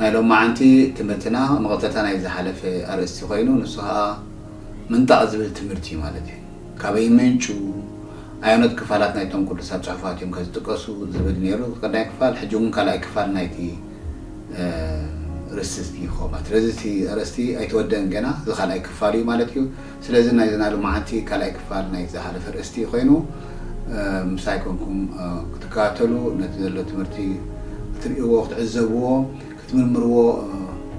ናይ ሎማዓንቲ ትምህርትና መቐጸልታ ናይ ዝሓለፈ ኣርእስቲ ኮይኑ ንሱ ከኣ ምንጣቕ ዝብል ትምህርት እዩ ማለት እዩ። ካበይ ይመንጩ ኣየኖት ክፋላት ናይቶም ቅዱሳት ጽሑፋት እዮም ከ ዝጥቀሱ ዝብል ነይሩ እቲ ቀዳማይ ክፋል ሕጂ እውን ካልኣይ ክፋል ናይቲ ርስቲ እዩ ክኸውን ማለት ስለዚ እቲ ኣርእስቲ ኣይተወደእን ገና እዚ ካልኣይ ክፋሉ እዩ ማለት እዩ። ስለዚ ናይዚ ናይ ሎማዓንቲ ካልኣይ ክፋል ናይ ዝሃለፈ ኣርእስቲ እዩ ኮይኑ ምሳይ ኮንኩም ክትከታተሉ ነቲ ዘሎ ትምህርቲ ክትርእይዎ ክትዕዘብዎ ክትምርምርዎ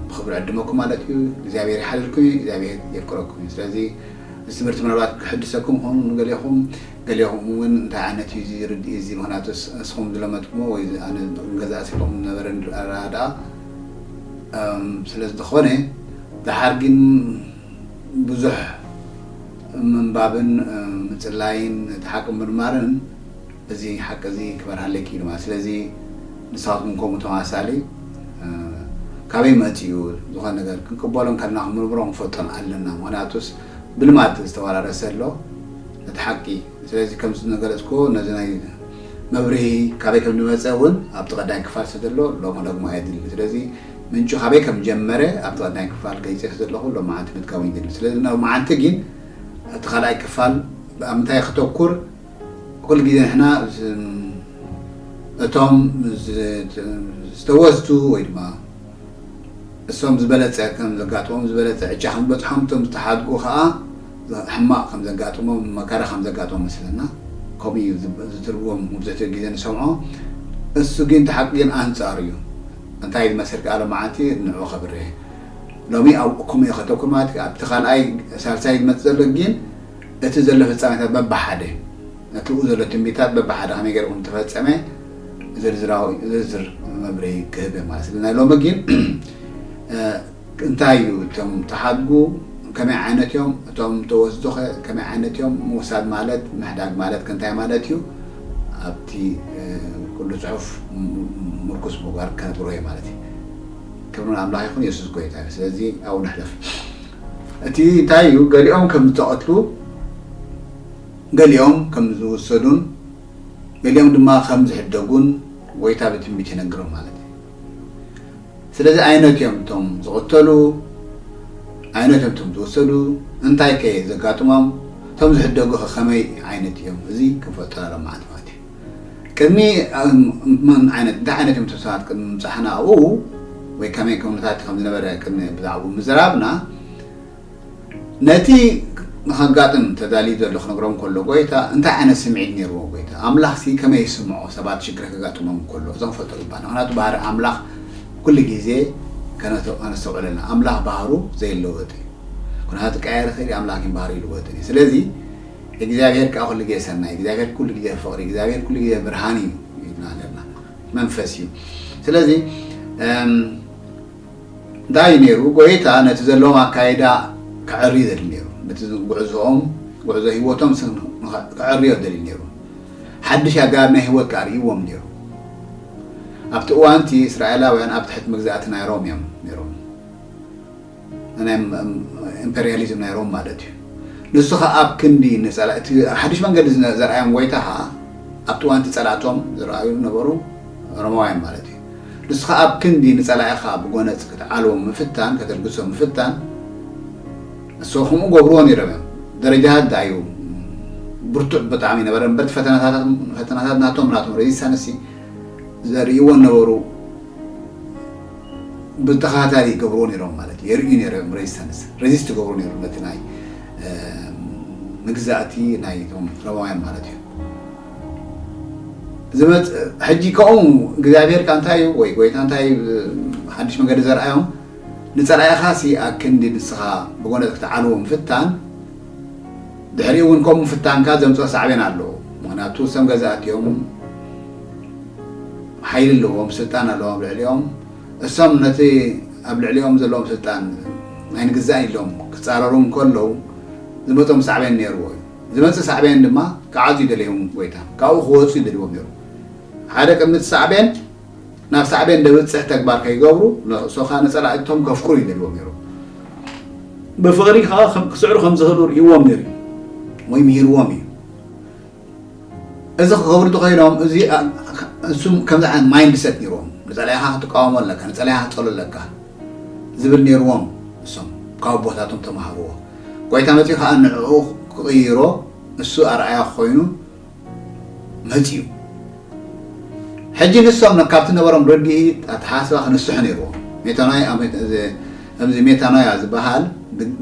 ብክብሪ ዕድመኩም ማለት እዩ እግዚኣብሔር ይሓልልኩም እዩ እግዚኣብሔር የፍቅረኩም እዩ ስለዚ እዚ ትምህርቲ ምናልባት ክሕድሰኩም ኾኑ ንገሌኹም ገሌኹም እውን እንታይ ዓይነት እዩ እዚ ርድኢ እዚ ምክንያቱስ እስኹም ዝለመድኩሞ ወይ ኣነ ገዛእ ሲልኹም ዝነበረ ኣረዳድኣ ስለ ዝኾነ ደሓር ግን ብዙሕ ምንባብን ምጽላይን ነቲ ሓቂ ምምርማርን እዚ ሓቂ እዚ ክበርሃለይ ክኢሉ ማለት ስለዚ ንስኻትኩም ከምኡ ተመሳሳሊ ካበይ መጺኡ ዝኾነ ነገር ክንቅበሎን ከለና ክምርምሮ ክንፈልጦን ኣለና ምክንያቱስ ብልማድ ዝተወራረሰ ኣሎ ነቲ ሓቂ ስለዚ ከም ዝነገለጽኩዎ ነዚ ናይ መብርሂ ካበይ ከም ዝመጸ እውን ኣብቲ ቀዳይ ክፋል ስለ ዘሎ ሎሚ ደግሞ ኣየድልን ስለዚ ምንጩ ካበይ ከም ዝጀመረ ኣብቲ ቀዳማይ ክፋል ገሊጸዮ ስለ ዘለኹ ሎማዓንቲ ምድጋሙ ኣይደልን። ስለዚ ሎማዓንቲ ግን ኣብቲ ካልኣይ ክፋል ኣብ ምንታይ ከተኩር ኩሉ ግዜ ንሕና እቶም ዝተወዝቱ ወይ ድማ እሶም ዝበለጸ ከም ዘጋጥሞም ዝበለጸ ዕጫ ከም ዝበጽሖም እቶም ዝተሓድጉ ከኣ ሕማቕ ከም ዘጋጥሞም መከራ ከም ዘጋጥሞም መስለና ከምኡ እዩ ዝትርጎም መብዝሕትኡ ግዜ ንሰምዖ እሱ ግን እቲ ሓቂ ግን ኣንጻሩ እዩ። እንታይ ኢል መሰልኪ ኣሎም መዓልቲ ንዑ ከብሬ ሎሚ ኣብኡኩም እየ ከተኩም ማለት እዩ ኣብቲ ካልኣይ ሳልሳይ ዝመጽእ ዘሎ ጊን እቲ ዘሎ ፍጻሜታት በብሓደ እቲ ኡ ዘሎ ትንቢታት በብሓደ ከመይ ገሩ ኩም ተፈጸመ ዝርዝራዊ ዝርዝር መብርሂ ክህብ እየ ማለት ስለ ናይ ሎሚ ጊን እንታይ እዩ እቶም ተሓድጉ ከመይ ዓይነት እዮም እቶም ተወስዱ ከ ከመይ ዓይነት እዮም ምውሳድ ማለት ምሕዳግ ማለት ከ እንታይ ማለት እዩ ኣብቲ ኩሉ ጽሑፍ ምርኩስ ምግባር ክነግሮ እየ ማለት እዩ ክብሪ ንኣምላኽ ይኹን የሱስ ጎይታ እዩ ስለዚ ኣብኡ ንሕለፍ እቲ እንታይ እዩ ገሊኦም ከም ዝተቐትሉ ገሊኦም ከም ዝውሰዱን ገሊኦም ድማ ከም ዝሕደጉን ጎይታ ብትንቢት ይነግሮም ማለት እዩ ስለዚ ኣይነት እዮም እቶም ዝቕተሉ፣ ኣይነት እዮም እቶም ዝወሰዱ፣ እንታይ ከ ዘጋጥሞም፣ እቶም ዝሕደጉ ከ ከመይ ዓይነት እዮም፣ እዚ ክንፈልጦ ኣለና ማለት እዩ። ቅድሚ እንታይ ዓይነት እዮም እቶም ሰባት ቅድሚ ምብፃሕና ኣብኡ ወይ ከመይ ኩነታት ከም ዝነበረ ቅድሚ ብዛዕብኡ ምዝራብና፣ ነቲ ንኸጋጥም ተዳልዩ ዘሎ ክነግሮም ከሎ ጎይታ እንታይ ዓይነት ስምዒት ኔርዎ ጎይታ ኣምላኽሲ ከመይ ይስምዖ ሰባት ሽግር ከጋጥሞም ከሎ እዞም ፈልጦ ይባሃል ምክንያቱ ባህሪ ኣምላኽ ኩሉ ግዜ ከነስተውዕለና ኣምላኽ ባህሩ ዘይለወጥ እዩ ኩነታት ክቀያየር ይኽእል እዩ ኣምላኽ ግን ባህሪ ይልወጥን እዩ ስለዚ እግዚኣብሔር ከዓ ኩሉ ግዜ ሰናይ እግዚኣብሔር ኩሉ ግዜ ፍቅሪ እግዚኣብሔር ኩሉ ግዜ ብርሃን እዩ ይብልና ነርና መንፈስ እዩ ስለዚ እንታይ እዩ ነይሩ? ጐይታ ነቲ ዘለዎም ኣካይዳ ከዐሪ ደልዩ ነይሩ። ነቲ ጕዕዞኦም፣ ጕዕዞ ህይወቶም ከዐርዮ ደልዩ ነይሩ። ሓድሽ ኣገባብ ናይ ህይወት ከኣ ኣርእይዎም ነይሩ። ኣብቲ እዋን'ቲ እስራኤላውያን ኣብ ትሕቲ መግዛእቲ ናይ ሮም እዮም ነይሮም፣ ናይ ኢምፐርያሊዝም ናይ ሮም ማለት እዩ። ንሱ ኸኣ ኣብ ክንዲ እቲ ሓድሽ መንገዲ ዘርኣዮም ጐይታ ኸኣ ኣብቲ እዋን'ቲ ጸላእቶም ዝረኣዩ ዝነበሩ ሮማውያን ማለት እዩ። ንስኻ ኣብ ክንዲ ንጸላኢኻ ብጎነጽ ክትዓልዎም ምፍታን ከተልግሶ ምፍታን ንሶ ከምኡ ገብርዎ ነይሮም እዮም ደረጃታት ደኣ እዩ ብርቱዕ ብጣዕሚ ይነበረ እምበር ፈተናታት ናቶም ናቶም ሬዚስታንሲ ዘርእይዎ ነበሩ ብተኸታታሊ ይገብርዎ ነይሮም ማለት እዩ የርእዩ ነይሮም ሬዚስታንስ ሬዚስት ይገብሩ ነይሩ ነቲ ናይ መግዛእቲ ናይቶም ሮማውያን ማለት እዩ ዝመጽእ ሕጂ ከምኡ እግዚኣብሔር ከ እንታይ እዩ ወይ ጎይታ እንታይ እዩ ሓድሽ መገዲ ዘርኣዮም ንጸላኢኻ ሲ ኣክንዲ ንስኻ ብጎነጽ ክትዓልዎ ምፍታን ድሕሪኡ እውን ከምኡ ፍታንካ ዘምጽኦ ሳዕቤን ኣሎ ምክንያቱ ሰም ገዛእት እዮም ሓይሊ ኣለዎም ስልጣን ኣለዎም ኣብ ልዕሊኦም እሶም ነቲ ኣብ ልዕሊኦም ዘለዎም ስልጣን ኣይንግዛእን ኢሎም ክጻረሩ እንከለዉ ዝመጾም ሳዕቤን ነይርዎ እዩ ዝመጽእ ሳዕቤን ድማ ክዓጹ ይደልዮም ጎይታ ካብኡ ክወጹ ይደልዎም ነይሩ ሓደ ቅምጽ ሳዕቤን ናብ ሳዕቤን ደብጽሕ ተግባር ከይገብሩ ንርእሶካ ንጸላእቶም ከፍቅሩ ይደልዎም ነይሩ ብፍቕሪ ከኣ ክስዕሩ ከም ዝኽእሉ ርእይዎም ነይሩ እዩ ወይ ምሂርዎም እዩ እዚ ክገብሩ ተኸኢሎም እዚ እሱም ከምዚ ዓይነት ማይንድ ሰት ነይርዎም ንጸላኢኻ ክትቃወሞ ኣለካ ንጸላኢኻ ክትጸሉ ኣለካ ዝብል ኔርዎም ንሶም ካብ ኣቦታቶም ተማሃርዎ ጎይታ መጺኡ ከኣ ንዕኡ ክቅይሮ ንሱ ኣርኣያ ኮይኑ መጺኡ ሕጂ ንሶም ካብቲ ነበሮም ረዲኢ ኣተሓሳስባ ክንስሑ ኔርዎም ሜታኖያ እዚ ሜታኖያ ዝበሃል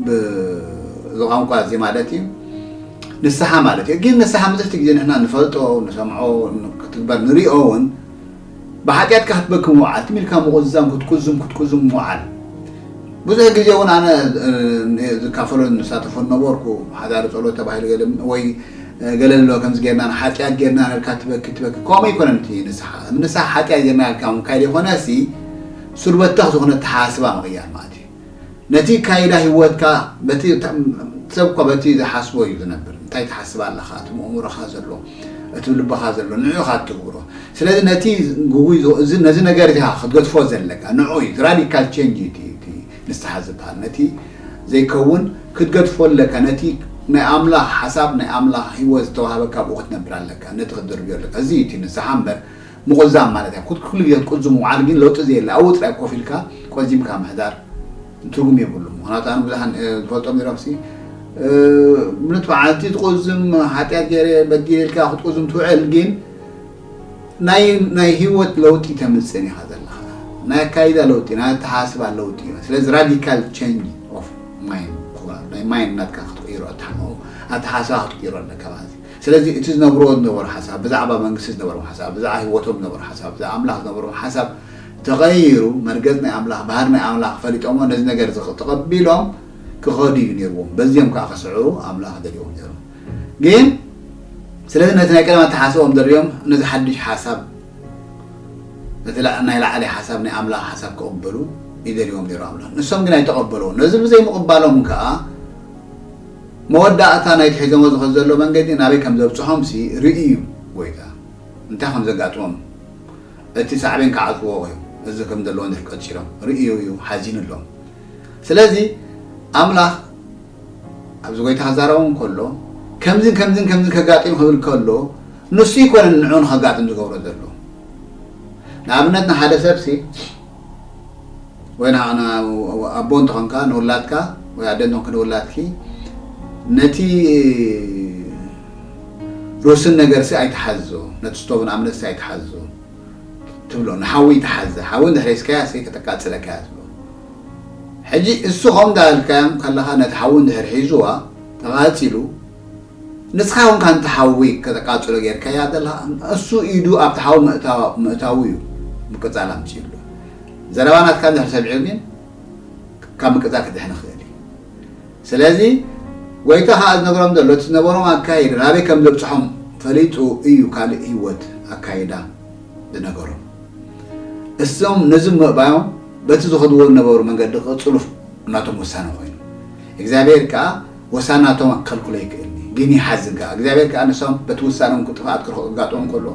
ብዝቋንቋ እዚ ማለት እዩ ንስሓ ማለት እዩ ግን ንስሓ ብዙሕቲ ግዜ ንሕና ንፈልጦ ንሰምዖ ክትግበር ንሪኦ እውን ብሓጢኣትካ ክትበኪ ምውዓል፣ ትም ኢልካ ምቑዝዛም፣ ክትቁዝም ክትቁዝም ምውዓል። ብዙሕ ግዜ እውን ኣነ ዝካፈሎን ዝሳተፎን ነበርኩ፣ ሓዳሪ ጸሎት ተባሂሉ ገለ ወይ ገለ ኣሎ ከምዚ ጌርና ሓጢኣት ጌርና ኢልካ ትበኪ ትበኪ ከምኡ ኣይኮነን እቲ ንስሓ ንስሓ ሓጢኣት ጌርና ኢልካ ምብካይ ዘይኮነሲ ሱር በተኽ ዝኾነ ኣተሓሳስባ ምቕያር ማለት እዩ። ነቲ ኣካይዳ ህይወትካ በቲ ሰብ እኮ በቲ ዝሓስቦ እዩ ዝነብር እንታይ ትሓስብ ኣለኻ እቲ መእምሮኻ ዘሎ እቲ ልብኻ ዘሎ ንዑ ኢኻ እትግብሮ ስለዚ ነቲ ግጉይ ነዚ ነገር እዚ ክትገድፎ ዘለካ ንዑ እዩ ራዲካል ቼንጅ እዩ እቲ ንስሓ ዝበሃል ነቲ ዘይከውን ክትገድፎ ኣለካ ነቲ ናይ ኣምላኽ ሓሳብ ናይ ኣምላኽ ህይወት ዝተዋህበካ ኣብኡ ክትነብር ኣለካ ነቲ ክትድርብዮ ኣለካ እዚ እዩ እቲ ንስሓ እምበር ምቑዛም ማለት እያ። ኩሉ ግዜ ክትቁዝም ምውዓል ግን ለውጢ ዘየለ ኣብኡ ጥራይ ኮፍ ኢልካ ቆዚምካ ምሕዳር ትርጉም የብሉን። ምኽንያቱ ኣነ ብዙሓን ዝፈልጦም ኔሮምሲ ምሉት መዓልቲ ትቁዝም ሓጢኣት ገይረ በዲለ ኢልካ ክትቁዝም ትውዕል ግን ናይ ህይወት ለውጢ ተምፅእን ኢኻ ዘለኻ ናይ ኣካይዳ ለውጢ ናይ ኣተሓሳስባ ለውጢ እዩ። ስለዚ ራዲካል ቸንጅ ኦፍ ማይንድ ናይ ማይንድ ናትካ ክትቅይሮ ኣተሓሳስባ ክትቅይሮ ኣለካ ማለት እዩ። ስለዚ እቲ ዝነብርዎ ዝነበሩ ሓሳብ፣ ብዛዕባ መንግስቲ ዝነበሮም ሓሳብ፣ ብዛዕባ ህይወቶም ዝነበሩ ሓሳብ፣ ብዛዕባ ኣምላኽ ዝነበሮም ሓሳብ ተቐይሩ፣ መርገጽ ናይ ኣምላኽ፣ ባህሪ ናይ ኣምላኽ ፈሊጦሞ ነዚ ነገር እዚ ተቐቢሎም ክኸዱ እዩ ነይርዎም። በዚኦም ከኣ ክስዕሩ ኣምላኽ ደልዎም ነይሩ። ግን ስለዚ ነቲ ናይ ቀደም ኣተሓሳስባኦም ደርብዮም ነዚ ሓድሽ ሓሳብ፣ ነቲ ናይ ላዕሊ ሓሳብ፣ ናይ ኣምላኽ ሓሳብ ክቕበሉ እዩ ደልዎም ነይሩ ኣምላኽ። ንሶም ግን ኣይተቐበልዎን። ነዚ ብዘይምቕባሎም ከኣ፣ መወዳእታ ናይቲ ሒዞሞ ዝኸዱ ዘለዉ መንገዲ ናበይ ከም ዘብጽሖምሲ ርእዩ ጐይታ እንታይ ከም ዘጋጥሞም እቲ ሳዕቤን ክዓጽዎ እዩ እዚ ከም ዘለዉ ንድሕር ቀጺሎም ርእዩ እዩ ሓዚኑሎም ስለዚ ኣምላኽ ኣብዚ ጐይታ ክዛረቦም ከሎ ከምዝን ከምዝን ከምዝን ከጋጥም ክብል ከሎ ንሱ ይኮነን ንዑ ንኸጋጥም ዝገብሮ ዘሎ ንኣብነት ንሓደ ሰብሲ ወይ ንዓና ኣቦ እንተኾንካ ንውላድካ ወይ ኣደ እንተኾንኪ ንውላድኪ ነቲ ሩስን ነገርሲ ኣይትሓዞ ነቲ ስቶቭ ንኣብነትሲ ኣይትሓዞ ትብሎ ንሓዊ ይትሓዘ ሓዊ እንድሕር ሒዝካያ ሰይ ከተቃፅለካ እያ ትብሎ ሕጂ እሱ ከምኡ እንዳበልካዮም ከለኻ ነቲ ሓዊ እንድሕር ሒዙዋ ተቓፂሉ ንስኻ ኮንካ ነቲ ሓዊ ከተቃጽሎ ጌርካያ ዘለኻ እሱ ኢዱ ኣብቲ ሓዊ ምእታዉ እዩ ምቅጻል ኣምጺእሉ ዘረባ ናትካ እንድሕር ሰሚዑ ግን ካብ ምቅጻል ክድሕን ይኽእል እዩ ስለዚ ጎይታ ከኣ ዝነግሮም ዘሎ እቲ ዝነበሮም ኣካይዳ ናበይ ከም ዘብጽሖም ፈሊጡ እዩ ካልእ ህይወት ኣካይዳ ዝነገሮም እሶም ነዚ ምእባዮም በቲ ዝኸድዎ ዝነበሩ መንገዲ ክቅጽሉ ናቶም ውሳነ ኮይኑ እግዚኣብሔር ከኣ ወሳናቶም ኣከልክሎ ይክእል እዩ ግን ይሓዝን ከኣ እግዚኣብሔር ከኣ ንሶም በቲ ውሳኖም ክጥፋኣት ክርክዑ ክጋጥሞም ከሎ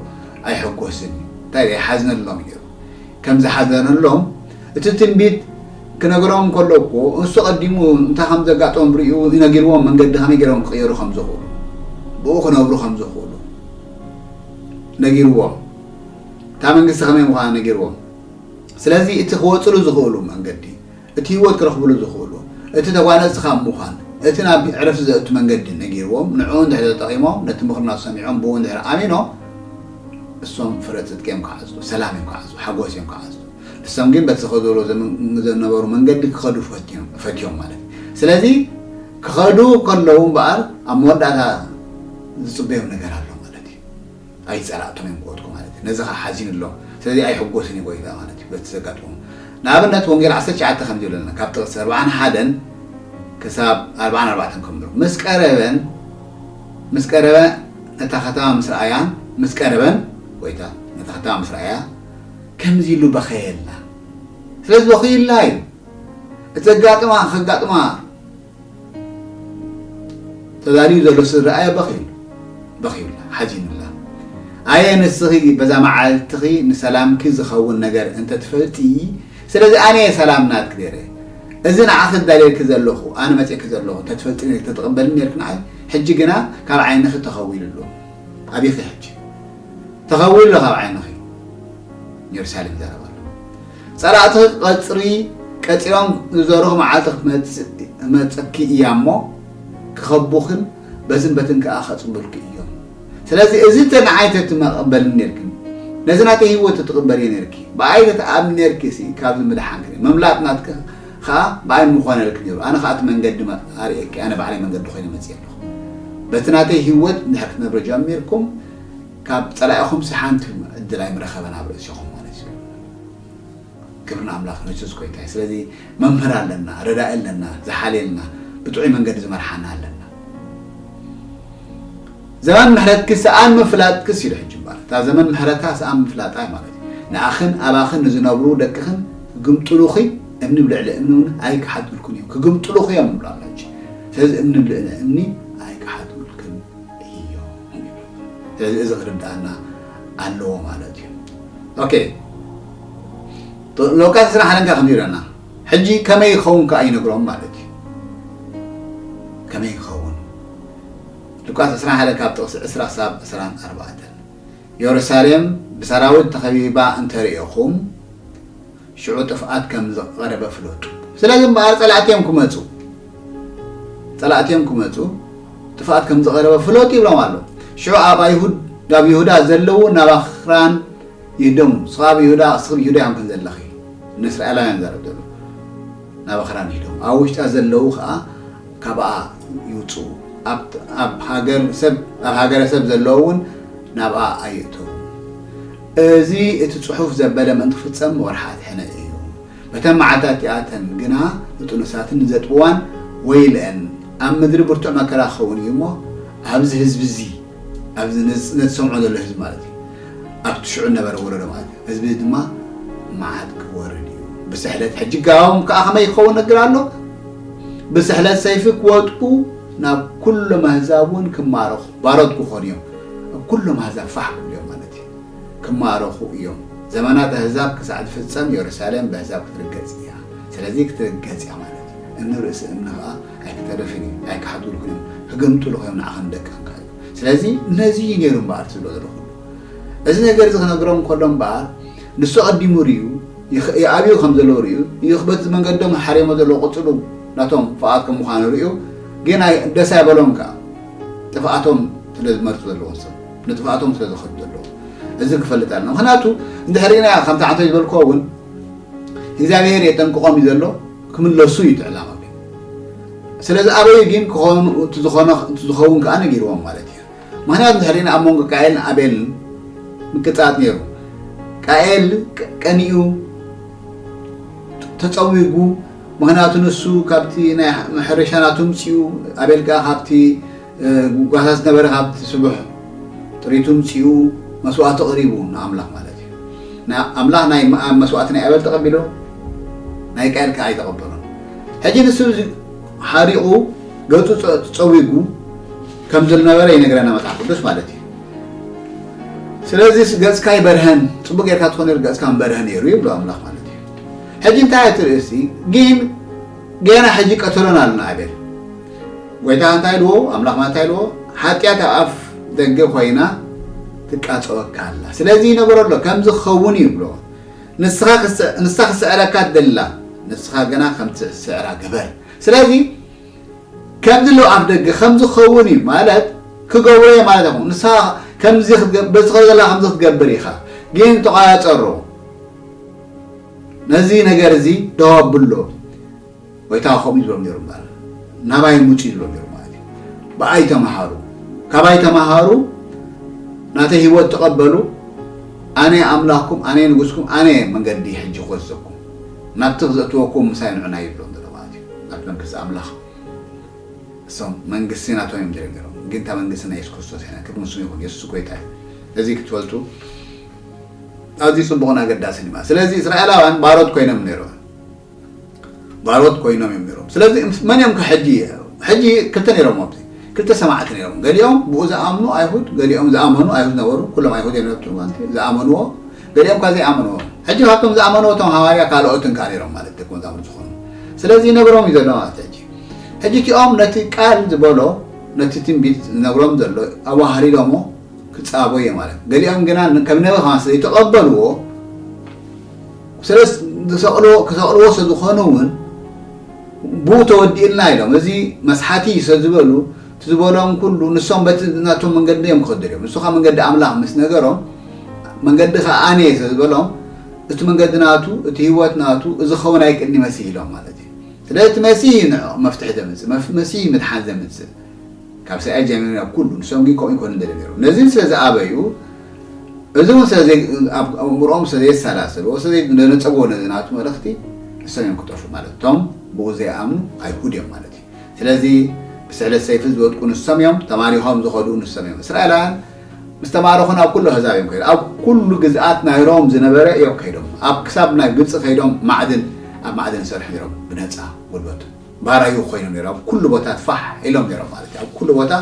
ኣይሕጎስን እዩ እንታይ ድኣ ይሓዝነሎም እዩ ነይሩ ከም ዝሓዘነሎም እቲ ትንቢት ክነግሮም ከሎ እኮ እሱ ቀዲሙ እንታይ ከም ዘጋጥሞም ሪኡ ነጊርዎም መንገዲ ከመይ ገይሮም ክቅየሩ ከም ዝኽእሉ ብኡ ክነብሩ ከም ዝኽእሉ ነጊርዎም እታ መንግስቲ ከመይ ምዃና ነጊርዎም ስለዚ እቲ ክወጽሉ ዝኽእሉ መንገዲ እቲ ህይወት ክረኽብሉ ዝኽእሉ፣ እቲ ተጓነጽቲ ካብ ምዃን፣ እቲ ናብ ዕረፍቲ ዘእቱ መንገዲ ነጊርዎም፣ ንዕኡ እንድሕሪ ተጠቒሞም፣ ነቲ ምኽርና ሰሚዖም ብኡ እንድሕሪ ኣሚኖም፣ እሶም ፍረ ጽድቂ እዮም ክዓጽዱ፣ ሰላም እዮም ክዓጽዱ፣ ሓጎስ እዮም ክዓጽዱ። ንሶም ግን በቲ ዝኸድዎ ዘነበሩ መንገዲ ክኸዱ ፈትዮም፣ ፈትዮም ማለት እዩ። ስለዚ ክኸዱ ከለዉ እምበኣር ኣብ መወዳእታ ዝጽበዮም ነገር ኣሎ ማለት እዩ። ኣይጸላእቱን እዮም ክወድቁ ማለት እዩ ነዚ ከኣ ሓዚኑሎም ስለዚ ኣይሕጎስን እዩ ጎይታ ማለት እዩ በቲ ዘጋጥሞም ንኣብነት ወንጌል ዓሰርተ ትሽዓተ ከምዚ ይብለና ካብ ጥቕሲ ኣርብዓን ሓደን ክሳብ ኣርብዓን ኣርባዕተን ከምሎ ምስ ቀረበን ምስ ቀረበ ነታ ከተማ ምስ ረኣያን ምስ ቀረበን ጎይታ ነታ ከተማ ምስ ረኣያ ከምዚ ኢሉ በኸየላ ስለዚ በኺዩላ እዩ እቲ ዘጋጥማ ከጋጥማ ተዳልዩ ዘሎ ስድርኣያ በኺዩሉ በኺዩላ ሓዚኑላ ኣየ ንስኺ በዛ መዓልትኺ ንሰላምኪ ዝኸውን ነገር እንተትፈልጢ ስለዚ ኣነየ ሰላም ናትኪ ነይረ እዚ ንዓኺ ዝዳልየልኪ ዘለኹ ኣነ መፅእኪ ዘለኹ እንተትፈልጢ ነርኪ ተተቐበልኒ ነርኪ ንዓይ ሕጂ ግና ካብ ዓይንኺ ተኸዊሉ ኣሎ ኣቢኺ ሕጂ ተኸዊሉ ኣሎ ካብ ዓይንኺ ንየሩሳሌም ይዛረብ ኣሎ ጸላእቲ ቐጽሪ ቀጺሮም ዝዘርኹ መዓልቲ ክትመጽእኪ እያ እሞ ክኸቡኺን በዝን በትን ከኣ ከጽንብልኪ እዮም ስለዚ እዚ እንተ ንዓይ ተትመቐበልኒ ኔርክን ነዚ ናተይ ህይወት ተትቕበልዮ ኔርኪ ብኣይ ተትኣምኒ ኔርኪ ሲ ካብዚ ምድሓንኪ ኔሩ ምምላጥ ናትኪ ከኣ ብኣይ ምኾነልኪ ኔሩ ኣነ ከኣ እቲ መንገዲ ኣርእየኪ ኣነ ባዕለይ መንገዲ ኮይነ መጽየ ኣለኹ በቲ ናተይ ህይወት እንድሕር ክትነብሩ ጀሚርኩም ካብ ጸላኢኹምሲ ሓንቲ ዕድል ኣይምረኸበን ኣብ ርእሲኹም ማለት እዩ። ክብሪ ንኣምላኽ ንሱስ ጎይታ እዩ። ስለዚ መምህር ኣለና፣ ረዳኢ ኣለና፣ ዝሓልየልና ብጥዑይ መንገዲ ዝመርሓና ኣለና። ዘመን ምሕረትኪ ሰኣን ምፍላጥክስ ኢሉ ሕጂ እምበር እታ ዘመን ምሕረታ ሰኣን ምፍላጣ እዩ ማለት እዩ። ንኣኽን ኣባኽን ንዝነብሩ ደቅኽን ክግምጥሉኺ እምኒ ብልዕሊ እምኒ እውን ኣይክሓድግልኩን እዮም ክግምጥሉኺ እዮም ንብላ ኣሎ ሕጂ ስለዚ እምኒ ብልዕሊ እምኒ ኣይክሓድግልክን እዮ ስለዚ እዚ ክርድኣና ኣለዎ ማለት እዩ ኦኬ ሎቃት ስራሕ ኣለንካ ከም ይብለና ሕጂ ከመይ ይኸውን ከዓ ይነግሮም ማለት እዩ ከመይ ይኸውን ሉቃስ 2 ሓደ ካብ ጥቕሲ 2 ሳብ 24 የሩሳሌም ብሰራዊት ተኸቢባ እንተርእኹም ሽዑ ጥፍኣት ከም ዝቐረበ ፍለጡ። ስለዚ እምበኣር፣ ጸላእቲ እዮም ክመጹ፣ ጸላእቲ እዮም ክመጹ፣ ጥፍኣት ከም ዝቐረበ ፍለጡ ይብሎም ኣሎ። ሽዑ ኣብ ኣይሁድ ኣብ ይሁዳ ዘለዉ ናብ ኣኽራን ይህደሙ፣ ንስኻ ኣብ ይሁዳ ክስብ ይሁዳ እዮም ከምዘለኺ ንእስራኤላውያን ይዛረብ ዘሎ፣ ናብ ኣኽራን ይህደሙ፣ ኣብ ውሽጣ ዘለዉ ከኣ ካብኣ ይውጽኡ፣ ኣብ ኣብ ሃገር ሰብ ኣብ ሃገረ ሰብ ዘለዉ እውን ናብኣ ኣይእተዉ። እዚ እቲ ጽሑፍ ዘበለ ምእንቲ ክፍጸም ወርሓት ሕነ እዩ። በተን መዓልትታት እቲኣተን ግና ንጥኑሳትን ንዘጥብዋን ወይልኤን፣ ኣብ ምድሪ ብርቱዕ መከራ ክኸውን እዩ እሞ፣ ኣብዚ ህዝቢ እዚ፣ ኣብዚ ነዚ ነቲ ዝሰምዖ ዘሎ ህዝቢ ማለት እዩ፣ ኣብቲ ሽዑ ዝነበረ ወለዶ ማለት እዩ፣ ህዝቢ እዚ ድማ መዓት ክወርድ እዩ፣ ብስሕለት ሕጂ ጋዎም ከኣ ከመይ ክኸውን እነግር ኣሎ፣ ብስሕለት ሰይፊ ክወድቁ፣ ናብ ኩሎም ኣህዛብ እውን ክማረኹ፣ ባሮት ክኾኑ እዮም፣ ኣብ ኩሎም ኣህዛብ ፋሕ ክብሉ እዮም ማለት እዩ። ክማረኹ እዮም። ዘመናት ኣህዛብ ክሳዕ ዝፍጸም የሩሳሌም በህዛብ ክትርገጽ እያ። ስለዚ ክትርገጽ እያ ማለት እዩ። እምኒ ርእሲ እምኒ ከኣ ኣይክተርፍን እዩ። ኣይክሓትዉልኩን እዮም። ክግምጥሉኹ እዮም ንዓኻን ንደቅኻን ከኣ ይብል። ስለዚ ነዚ እዩ ነይሩ እምበኣር እቲ ዝበሎ ኩሉ። እዚ ነገር እዚ ክነግሮም ከሎ እምበኣር ንሱ ኣቐዲሙ ርእዩ ይኣብዩ ከም ዘለዉ ርእዩ እዩ በቲ መንገዶም ሓርዮሞ ዘለዉ ቅጽሉ ናቶም ፍቓድ ከም ምዃኑ ርእዩ ግን ኣይ ደስ ኣይበሎን ከኣ ጥፍኣቶም ስለ ዝመርጹ ዘለዉ ሰብ ንጥፍኣቶም ስለ ዘኸዱ ዘለዉ እዚ ክፈልጥ ኣለና ምክንያቱ እንድሕሪና ከምቲ ዓንተ ዝበልክዎ እውን እግዚኣብሔር የጠንቅቆም እዩ ዘሎ ክምለሱ እዩ ትዕላማ ስለዚ ኣበዩ ግን ክኾኑ እቲ ዝኾነ እቲ ዝኸውን ከዓ ነጊርዎም ማለት እዩ ምክንያቱ እንድሕሪና ኣብ መንጎ ቃኤልን ኣቤልን ምቅፃት ነይሩ ቃኤል ቀኒኡ ተፀዊጉ ምክንያቱ ንሱ ካብቲ ናይ ሕርሻ ናቱ ምፅኡ ኣቤል ከዓ ካብቲ ጉጓሳ ዝነበረ ካብቲ ስቡሕ ጥሪቱ ምጺኡ መስዋእቲ ኣቕሪቡ ንኣምላኽ ማለት እዩ። ኣምላኽ ናይ መስዋእቲ ናይ ኣቤል ተቐቢሉ ናይ ቃየል ከኣ ኣይተቐበሎን። ሕጂ ንሱ ሓሪቑ ገጹ ጸዊጉ ከም ዝነበረ ይነግረና መጽሓፍ ቅዱስ ማለት እዩ። ስለዚ ገጽካ ይበርሀን ጽቡቅ ጌርካ ትኾን ነይሩ ገጽካ ምበርሀ ነይሩ ይብሎ ኣምላኽ ማለት እዩ። ሕጂ እንታይ እቲ ርእሲ ግን ገና ሕጂ ቀተሎን ኣሎ ንኣቤል ጎይታ እንታይ ኢልዎ ኣምላኽ እንታይ ኢልዎ ሓጢኣት ኣብ ኣፍ ደገ ኮይና ትቃጸወካ ኣላ ስለዚ ይነገሮ ኣሎ ከምዚ ክኸውን እዩ ይብሎ ንስኻ ንሳ ክስዕረካ ትደሊ ኣላ ንስኻ ግና ከም ትስዕራ ግበር ስለዚ ከምዚ ኣሎ ኣብ ደገ ከምዚ ክኸውን እዩ ማለት ክገብሮ እየ ማለት ኣይኮኑ ንስኻ ከምዚ በዚ ከ ዘላ ከምዚ ክትገብር ኢኻ ግን ተቋያጸሮ ነዚ ነገር እዚ ደው ኣብሎ ጐይታ ኸምኡ እዩ ዝብሎም ነይሩ እምበኣር፣ ናባይ ምጹ እዩ ዝብሎም ነይሩ ማለት እዩ። ብኣይ ተመሃሩ፣ ካባይ ተመሃሩ፣ ናተይ ህይወት ተቐበሉ፣ ኣነ ኣምላኽኩም፣ ኣነ ንጉስኩም፣ ኣነ መንገዲ ሕጂ ክወስደኩም፣ ናብቲ ክዘእትወኩም ምሳይ ንዑና እዩ ዝብሎም ዘሎ ማለት እዩ። ናብቲ መንግስቲ ኣምላኽ። እሶም መንግስቲ ናቶም እዮም ደልዮም ነይሮም፣ ግን እታ መንግስቲ ናይ የሱስ ክርስቶስ እያ። ክብሪ ንስሙ ይኹን፣ የሱስ ጐይታ እዩ። እዚ ክትፈልጡ ኣዝዩ ጽቡቕን ኣገዳስን እዩ ማለት። ስለዚ እስራኤላውያን ባሮት ኰይኖም ነይሮም፣ ባሮት ኮይኖም እዮም ነይሮም ስለዚ መን እዮም ከሕጂ ሕጂ ክልተ ነይሮም ኣብዚ ክልተ ሰማዕቲ ነይሮም ገሊኦም ብኡ ዝኣምኑ ኣይሁድ ገሊኦም ዝኣመኑ ኣይሁድ ነበሩ ኩሎም ኣይሁድ እዮም ነብቲ ማለት ዝኣመንዎ ገሊኦም ካ ዘይኣመንዎ ሕጂ ካብቶም ዝኣመንዎ እቶም ሃዋርያ ካልኦትን ከዓ ነይሮም ማለት ደቂ መዛሙር ዝኾኑ ስለዚ ይነግሮም እዩ ዘሎ ማለት ሕጂ ሕጂ እቲኦም ነቲ ቃል ዝበሎ ነቲ ትንቢት ዝነግሮም ዘሎ ኣዋሃሊሎሞ ክፃቦ እየ ማለት ገሊኦም ግና ከም ነቢ ከማን ስለይተቐበልዎ ስለስ ዝሰቕልዎ ክሰቕልዎ ሰዝኾኑ ውን ብኡ ተወዲኡልና ኢሎም እዚ መስሓቲ እዩ ሰዝበሉ እቲ ዝበሎም ኩሉ ንሶም በቲ ናቶም መንገዲ እዮም ክኸዱ ደልዮም ንሱ ከኣ መንገዲ ኣምላኽ ምስ ነገሮም መንገድኻ ኣነ እየ ሰዝበሎም እቲ መንገዲ ናቱ እቲ ህይወት ናቱ እዚ ክኸውን ኣይክእልንዩ መሲህ ኢሎም ማለት እዩ ስለዚ እቲ መሲህ እዩ ንዕኦም መፍትሒ ዘምጽእ መሲህ እዩ ምድሓን ዘምጽእ ካብ ሰኣይ ጀሚሩ ናብ ኩሉ ንሶምግን ከምኡ ኣይኮኑን ደልዮም ነይሮም ነዚን ስለ ዝኣበዩ እዚውን ስለ ዘይ ኣብ ኣእምሮኦም ስለ ዘየሰላሰልዎ ስለ ዘይደነጸግዎ ነዚ ናቱ መልእኽቲ ንሶም እዮም ክጠፍኡ ማለት እቶም ብኡ ዘይኣምኑ ኣይሁድ እዮም ማለት እዩ ስለዚ ብስዕለት ሰይፊ ዝወድቁ ንሶም እዮም ተማሪኾም ዝኸዱ ንሶም እዮም እስራኤላውያን ምስ ተማረኹ ናብ ኩሉ ኣህዛብ እዮም ከይዶም ኣብ ኩሉ ግዝኣት ናይ ሮም ዝነበረ እዮም ከይዶም ኣብ ክሳብ ናይ ግብጺ ከይዶም ማዕድን ኣብ ማዕድን ይሰርሑ ነይሮም ብነጻ ጉልበቱ ባራዩ ኮይኑ ነይሩ ኣብ ኩሉ ቦታ ፋሕ ኢሎም ነይሮም ማለት እዩ ኣብ ኩሉ ቦታ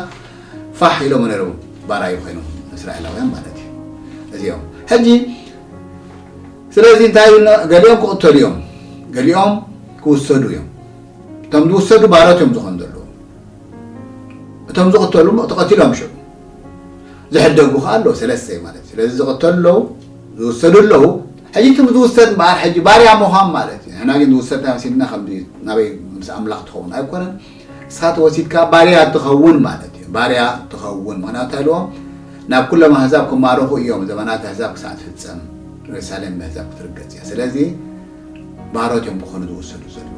ፋሕ ኢሎም ነይሩ ባራዩ ኮይኖም እስራኤላውያን ማለት እዩ እዚኦም ሕጂ ስለዚ እንታይ ገሊኦም ክቕተሉ እዮም ገሊኦም ክውሰዱ እዮም እቶም ዝውሰዱ ባሮት እዮም ዝኾኑ ዘለዉ እቶም ዝቕተሉ ተቐቲሎም ሽዑ ዝሕደጉ ከዓ ኣለዉ ሰለስተ ማለት እዩ ስለዚ ዝቕተሉ ኣለዉ ዝውሰዱ ኣለዉ ሕጂ እቲ ዝውሰድ እምበኣር ሕጂ ባርያ ምዃን ማለት እዩ ንሕና ግን ዝውሰድ እንታይ መሲሉና ከምዚ እዩ ናበይ ምስ ኣምላኽ ትኸውን ኣይኮነን ንስኻ ተወሲድካ ባርያ ትኸውን ማለት እዩ ባርያ ትኸውን ምኽንያቱ እንታይ ኢልዎ ናብ ኩሎም ኣህዛብ ክማረኹ እዮም ዘመናት ኣህዛብ ክሳዕ ትፍጸም ሬሳሌም ብኣህዛብ ክትርገጽ እያ ስለዚ ባሮት እዮም ክኾኑ ዝውሰዱ ዘለዉ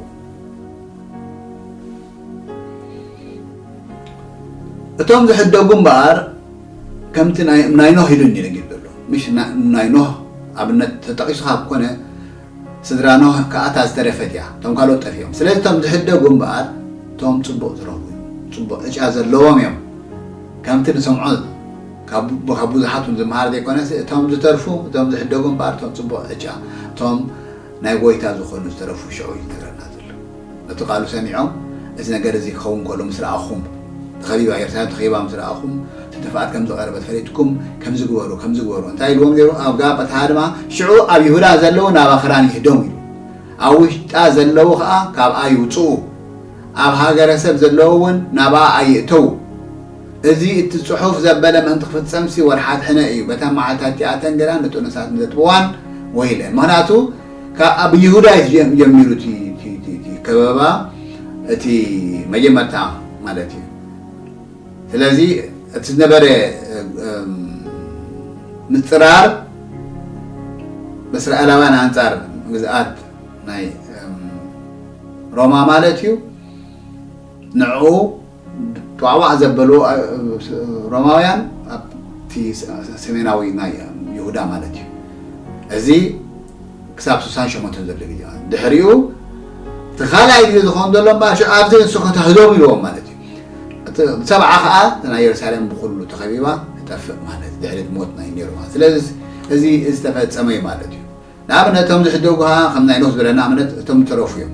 እቶም ዝሕደጉ እምበኣር ከምቲ ናይ ኖህ ኢሉኒ ነጊሩ ዘሎ ምሽ ናይ ኖህ ኣብነት ተጠቂሱ ካብ ኮነ ስድራ ኖህ ከኣ እታ ዝተረፈት እያ እቶም ካልኦት ጠፊኦም ስለዚ እቶም ዝሕደጉ እምበኣር እቶም ጽቡቅ ዝረኽቡ እዮም ጽቡቅ ዕጫ ዘለዎም እዮም ከምቲ ንሰምዖ ካብ ብዙሓት ውን ዝመሃር ዘይኮነስ እቶም ዝተርፉ እቶም ዝሕደጉ እምበኣር እቶም ጽቡቅ ዕጫ እቶም ናይ ጎይታ ዝኾኑ ዝተረፉ ሽዑ እዩ ዝነግረና እቲ ቃሉ ሰሚዖም እዚ ነገር እዚ ክኸውን ከሎ ምስ ረኣኹም፣ ተኸቢባ ኤርትራ ተኸቢባ ምስ ረኣኹም፣ ተደፍኣት ከም ዝቐረበት ፈሊጥኩም ከምዚ ግበሩ ከምዚ ግበሩ እንታይ ኢልዎም ነይሩ ኣብ ጋብታ ድማ ሽዑ ኣብ ይሁዳ ዘለዉ ናብ ኣኽራን ይህደሙ ኢሉ ኣብ ውሽጣ ዘለዉ ከኣ ካብኣ ይውጽኡ ኣብ ሃገረ ሰብ ዘለዉ ውን ናብኣ ኣይእተዉ እዚ እቲ ጽሑፍ ዘበለ ምእንቲ ክፍጸምሲ ወርሓት ሕነ እዩ በታ መዓልታቲኣተን ግና ንጥኑሳት ንዘጥብዋን ወይለ ምኽንያቱ ኣብ ይሁዳ እዩ ጀሚሩ እቲ ከበባ እቲ መጀመርታ ማለት እዩ ስለዚ እቲ ዝነበረ ምፅራር በእስራኤላውያን ኣንፃር ግዝኣት ናይ ሮማ ማለት እዩ ንዕኡ ጧዕዋዕ ዘበሉ ሮማውያን ኣብቲ ሰሜናዊ ናይ ይሁዳ ማለት እዩ እዚ ክሳብ ስሳን ሸሞንተን ዘሎ ግዜ ማለት ድሕሪኡ እቲ ካልኣይ ግዜ ዝኸውን ዘሎ እምበኣር ኣብዚ ንስኹ ተህዞም ኢልዎም ማለት እዩ እቲ ሰብዓ ከዓ ናይ የሩሳሌም ብኩሉ ተኸቢባ ትጠፍእ ማለት ድሕሪ ሞት ናይ ኔሮማ ስለዚ እዚ ዝተፈጸመ እዩ ማለት እዩ ንኣብነት እቶም ዝሕደጉ ከኣ ከም ናይ ኖህ ዝበለ ንኣብነት እቶም ዝተረፉ እዮም።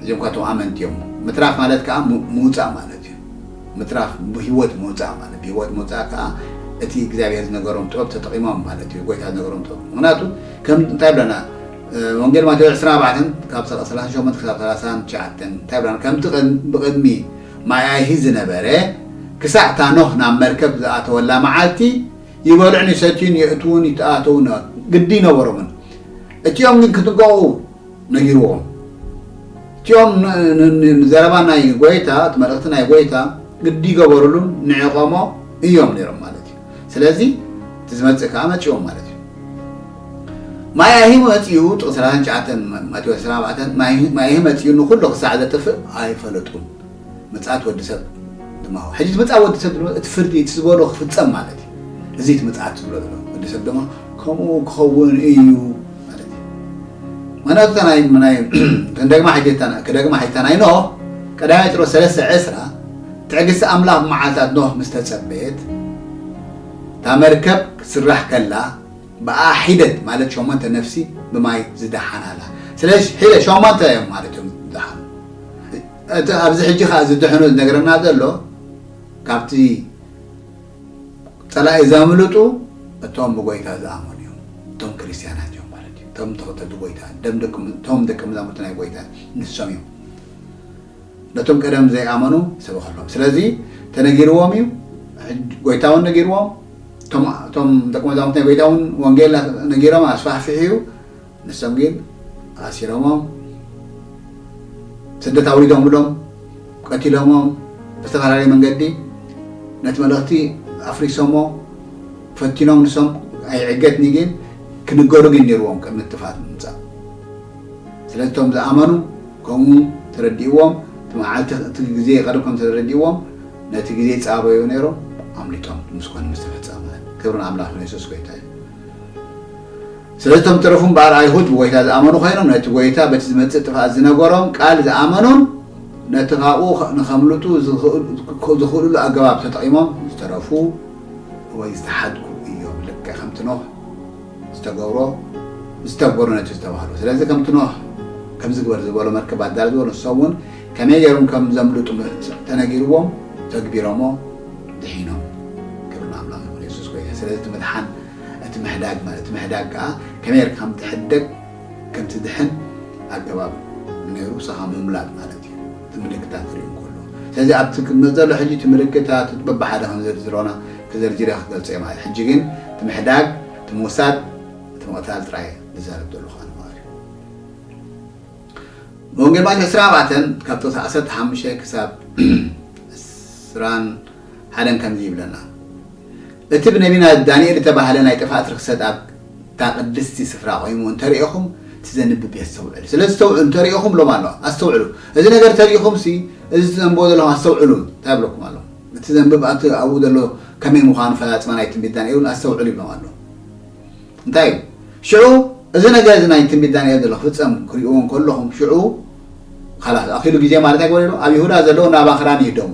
እዚኦም እኳ እቶም ኣመንቲ እዮም። ምትራፍ ማለት ከኣ ምውጻእ ማለት እዩ። ምትራፍ ብህይወት ምውጻእ ማለት ብህይወት ምውጻእ ከኣ እቲ እግዚኣብሄር ዝነገሮም ጥበብ ተጠቒሞም ማለት እዩ ጎይታ ዝነገሮም ጥበብ ምኽንያቱ ከም እንታይ ይብለና ወንጌል ማቴዎስ ዕስራን ኣርባዕተን ካብ ሰላሳን ሸሞንተ ክሳብ ሰላሳን ትሽዓተን እንታይ ይብለና ከምቲ ብቕድሚ ማይ ኣይሂ ዝነበረ ክሳዕ እታ ኖህ ናብ መርከብ ዝኣተወላ መዓልቲ ይበልዑን ይሰትዩን የእትዉን ይተኣተዉን ግዲ ኣይነበሮምን። እቲኦም ግን ክጥንቀቑ ነጊርዎም። እቲኦም ንዘረባ ናይ ጐይታ፣ እቲ መልእኽቲ ናይ ጐይታ ግዲ ይገበሩሉን ንዒቖሞ እዮም ነይሮም ማለት እዩ። ስለዚ እቲ ዝመጽእ ከኣ መጺኦም ማለት እዩ። ማያሂ መጺኡ፣ ጥቕሲ ሰላሳን ትሽዓተን ማቴዎስ ዕስራን ኣርባዕተን፣ ማያሂ መጺኡ ንዅሉ ክሳዕ ዘጥፍእ ኣይፈለጡን። ምጽኣት ወዲ ሰብ ድማ ሁ ሕጂ ምጽኣት ወዲ ሰብ ድማ እቲ ፍርዲ እቲ ዝበሎ ክፍጸም ማለት እዩ እዚ እቲ ምጽኣት ዝብሎ ዘሎ ወዲ ሰብ ድማ ከምኡ ክኸውን እዩ ማለት እዩ ምክንያቱ እታ ናይ ናይ ክንደግማ ሕጂ ክደግማ ሕጂ እታ ናይ ኖህ ቀዳማይ ጴጥሮስ ሰለስተ ዕስራ ትዕግስቲ ኣምላኽ መዓልትታት ኖህ ምስ ተጸበየት እታ መርከብ ክትስራሕ ከላ ብኣ ሒደት ማለት ሸሞንተ ነፍሲ ብማይ ዝደሓናላ ስለዚ ሒደት ሸሞንተ እዮም ማለት እዮም ዝደሓኑ እቲ ኣብዚ ሕጂ ከኣ ዝድሕኑ ዝነግረና ዘሎ ካብቲ ጸላኢ ዘምልጡ እቶም ብጎይታ ዝኣመኑ እዮም እቶም ክርስትያናት እዮም ማለት እዩ እቶም ተኸተልቲ ጎይታ እቶም ደቂ መዛሙርቲ ናይ ጎይታ ንሶም እዮም ነቶም ቀደም ዘይኣመኑ ሰበኸሎም ስለዚ ተነጊርዎም እዩ ጎይታ እውን ነጊርዎም እቶም ደቂ መዛሙርቲ ናይ ጎይታ እውን ወንጌል ነጊሮም ኣስፋሕፊሑ እዩ ንሶም ግን ኣሲሮሞም፣ ስደት ኣውሪዶምሎም፣ ቀቲሎሞም፣ ብዝተፈላለየ መንገዲ ነቲ መልእኽቲ ኣፍሪሶሞ፣ ፈቲኖም ንሶም ኣይዕገትኒ ግን ክንገሩ ግን ኔርዎም ቅድሚ ጥፍኣት ምምጻእ። ስለዚ እቶም ዝኣመኑ ከምኡ ተረዲእዎም እቲ መዓልቲ እቲ ግዜ ይቐርብ ከም ተረዲእዎም ነቲ ግዜ ይጻበዩ ኔሮም ኣምሊጦም ምስ ኮነ ምስ ተፈጸመ። ክብሪ ንኣምላኽ ይኹን የሱስ ጎይታ እዩ። ስለዚ እቶም ዝተረፉ እምበኣር ኣይሁድ ብጐይታ ዝኣመኑ ዀይኖም ነቲ ጐይታ በቲ ዝመጽእ ጥፍኣት ዝነገሮም ቃል ዝኣመኑን ነቲ ኻብኡ ንኸምልጡ ዝኽእሉሉ ኣገባብ ተጠቒሞም ዝተረፉ ወይ ዝተሓድጉ እዮም። ልክዕ ከምቲ ኖህ ዝተገብሮ ዝተግበሩ ነቲ ዝተባህሉ። ስለዚ ከምቲ ኖህ ከምዚ ግበር ዝበሎ መርከብ ኣዳሉ ዝበሎ ንሶም እውን ከመይ ገይሮም ከም ዘምልጡ ተነጊርዎም ተግቢሮሞ ድሒኖም። ክብሪ ንኣምላኽ ይኹን። የሱስ ጐይታ እዩ። ስለዚ እቲ ምድሓን እቲ ምሕዳግ ማለት እቲ ምሕዳግ ከኣ ከመይ ጌርካ ከም ትሕደግ ከም ትድሕን ኣገባብ ኔሩ ሳኻ ምምላጥ ማለት እዩ እቲ ምልክታት ክርኢ እንከሎ ስለዚ ኣብቲ ክቅመጥ ዘሎ ሕጂ እቲ ምልክታት እቲ በብሓደ ከም ዘርዝሮና ተዘርዚረ ክገልጾ እየ ማለት ሕጂ ግን እቲ ምሕዳግ እቲ ምውሳድ እቲ ምቕታል ጥራይ ዝዛረብ ዘለኹ ኣነ ማለት እዩ ወንጌል ማቴዎስ ዕስራን ኣርባዕተን ካብቶ ዓሰርተ ሓሙሽተ ክሳብ ዕስራን ሃለን ከምዚ ይብለና፣ እቲ ብነቢና ዳንኤል እተባህለ ናይ ጥፍኣት ርኽሰት ኣብታ ቅድስቲ ስፍራ ቈይሙ እንተ ርኤኹም፣ እቲ ዘንብብ የስተውዕል። ስለ እተውዕሉ እንተ ርኤኹም እብሎም ኣሎ፣ ኣስተውዕሉ። እዚ ነገር እንተ ርኢኹምሲ፣ እዚ እተንብቦ ዘለኹም ኣስተውዕሉ እንታይ ይብለኩም ኣሎ? እቲ ዘንብብ ኣብቲ ኣብኡ ዘሎ ከመይ ምዃኑ ፈላጽማ ናይ ትንቢት ዳንኤል እውን ኣስተውዕሉ ይብሎም ኣሎ። እንታይ እዩ? ሽዑ እዚ ነገር እዚ ናይ ትንቢት ዳንኤል ዘሎ ክፍጸም ክርእይዎ እንከለኹም፣ ሽዑ ኻላስ ኣኺሉ ግዜ ማለት ኣይግበር'ዩ ኣሎ፣ ኣብ ይሁዳ ዘለዉ ናብ ኣኽራን ይህደሙ፣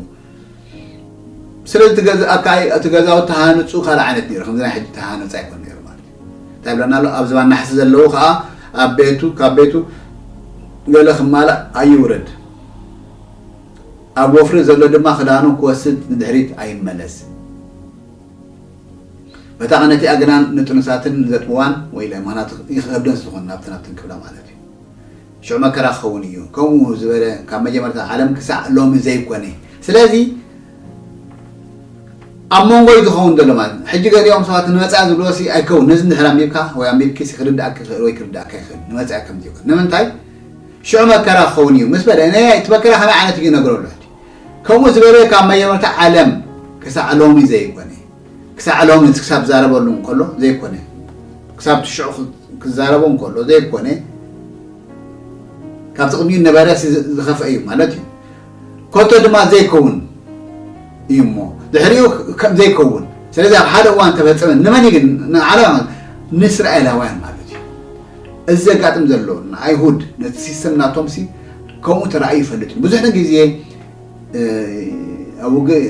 ስለ ዝትገዝኣ ከኣ እቲ ገዛውቲ ተሃንጹ ካልእ ዓይነት ነይሩ ከምዚ ናይ ሕጂ ተሃነጸ ኣይኮን ነይሩ ማለት እዩ እንታይ ብለና ኣሎ ኣብ ዝባን ናሕሲ ዘለዉ ከኣ ኣብ ቤቱ ካብ ቤቱ ገለ ክማላእ ኣይውረድ ኣብ ወፍሪ ዘሎ ድማ ክዳኑ ክወስድ ንድሕሪት ኣይመለስ በታ ቐነቲኣ ግና ንጥኑሳትን ዘጥብዋን ወይ ምክንያቱ ይኸብደን ስለዝኾነ ናብትን ናብትን ክብላ ማለት እዩ ሸው መከራ ክኸውን እዩ ከምኡ ዝበለ ካብ መጀመርታ ዓለም ክሳዕ ሎሚ ዘይኮነ ስለዚ ኣብ መንጎ እዩ ዝኸውን ዘሎ ማለት እዩ ሕጂ ገሊኦም ሰባት ንመፃኢ ዝብልዎ ሲ ኣይከውን ነዚ እንድሕር ኣንቢብካ ወይ ኣንቢብኪ ሲ ክርድኣክ ይኽእል ወይ ክርድኣካ ይኽእል ንመፃኢ ከምዚ ይኮን ንምንታይ ሽዑ መከራ ክኸውን እዩ ምስ በለ ነያ እቲ መከራ ከመይ ዓይነት እዩ ይነግረሉ ከምኡ ዝበለ ካብ መጀመርታ ዓለም ክሳዕ ሎሚ ዘይኮነ ክሳዕ ሎሚ ክሳብ ዛረበሉ እንከሎ ዘይኮነ ክሳብ ትሽዑ ክዛረቦ እንከሎ ዘይኮነ ካብቲ ቅድሚኡ ነበረ ዝኸፍአ እዩ ማለት እዩ ኮቶ ድማ ዘይከውን እዩ እሞ ድሕሪኡ ከም ዘይከውን ስለዚ ኣብ ሓደ እዋን ተፈፀመ ንመን ግን ንዓለም ንእስራኤላውያን ማለት እዩ እዚ ዘጋጥም ዘሎ ንኣይሁድ ነቲ ሲስተም ናቶምሲ ከምኡ ተራእዩ ይፈልጥ ብዙሕ ግዜ ኣብ ውግእ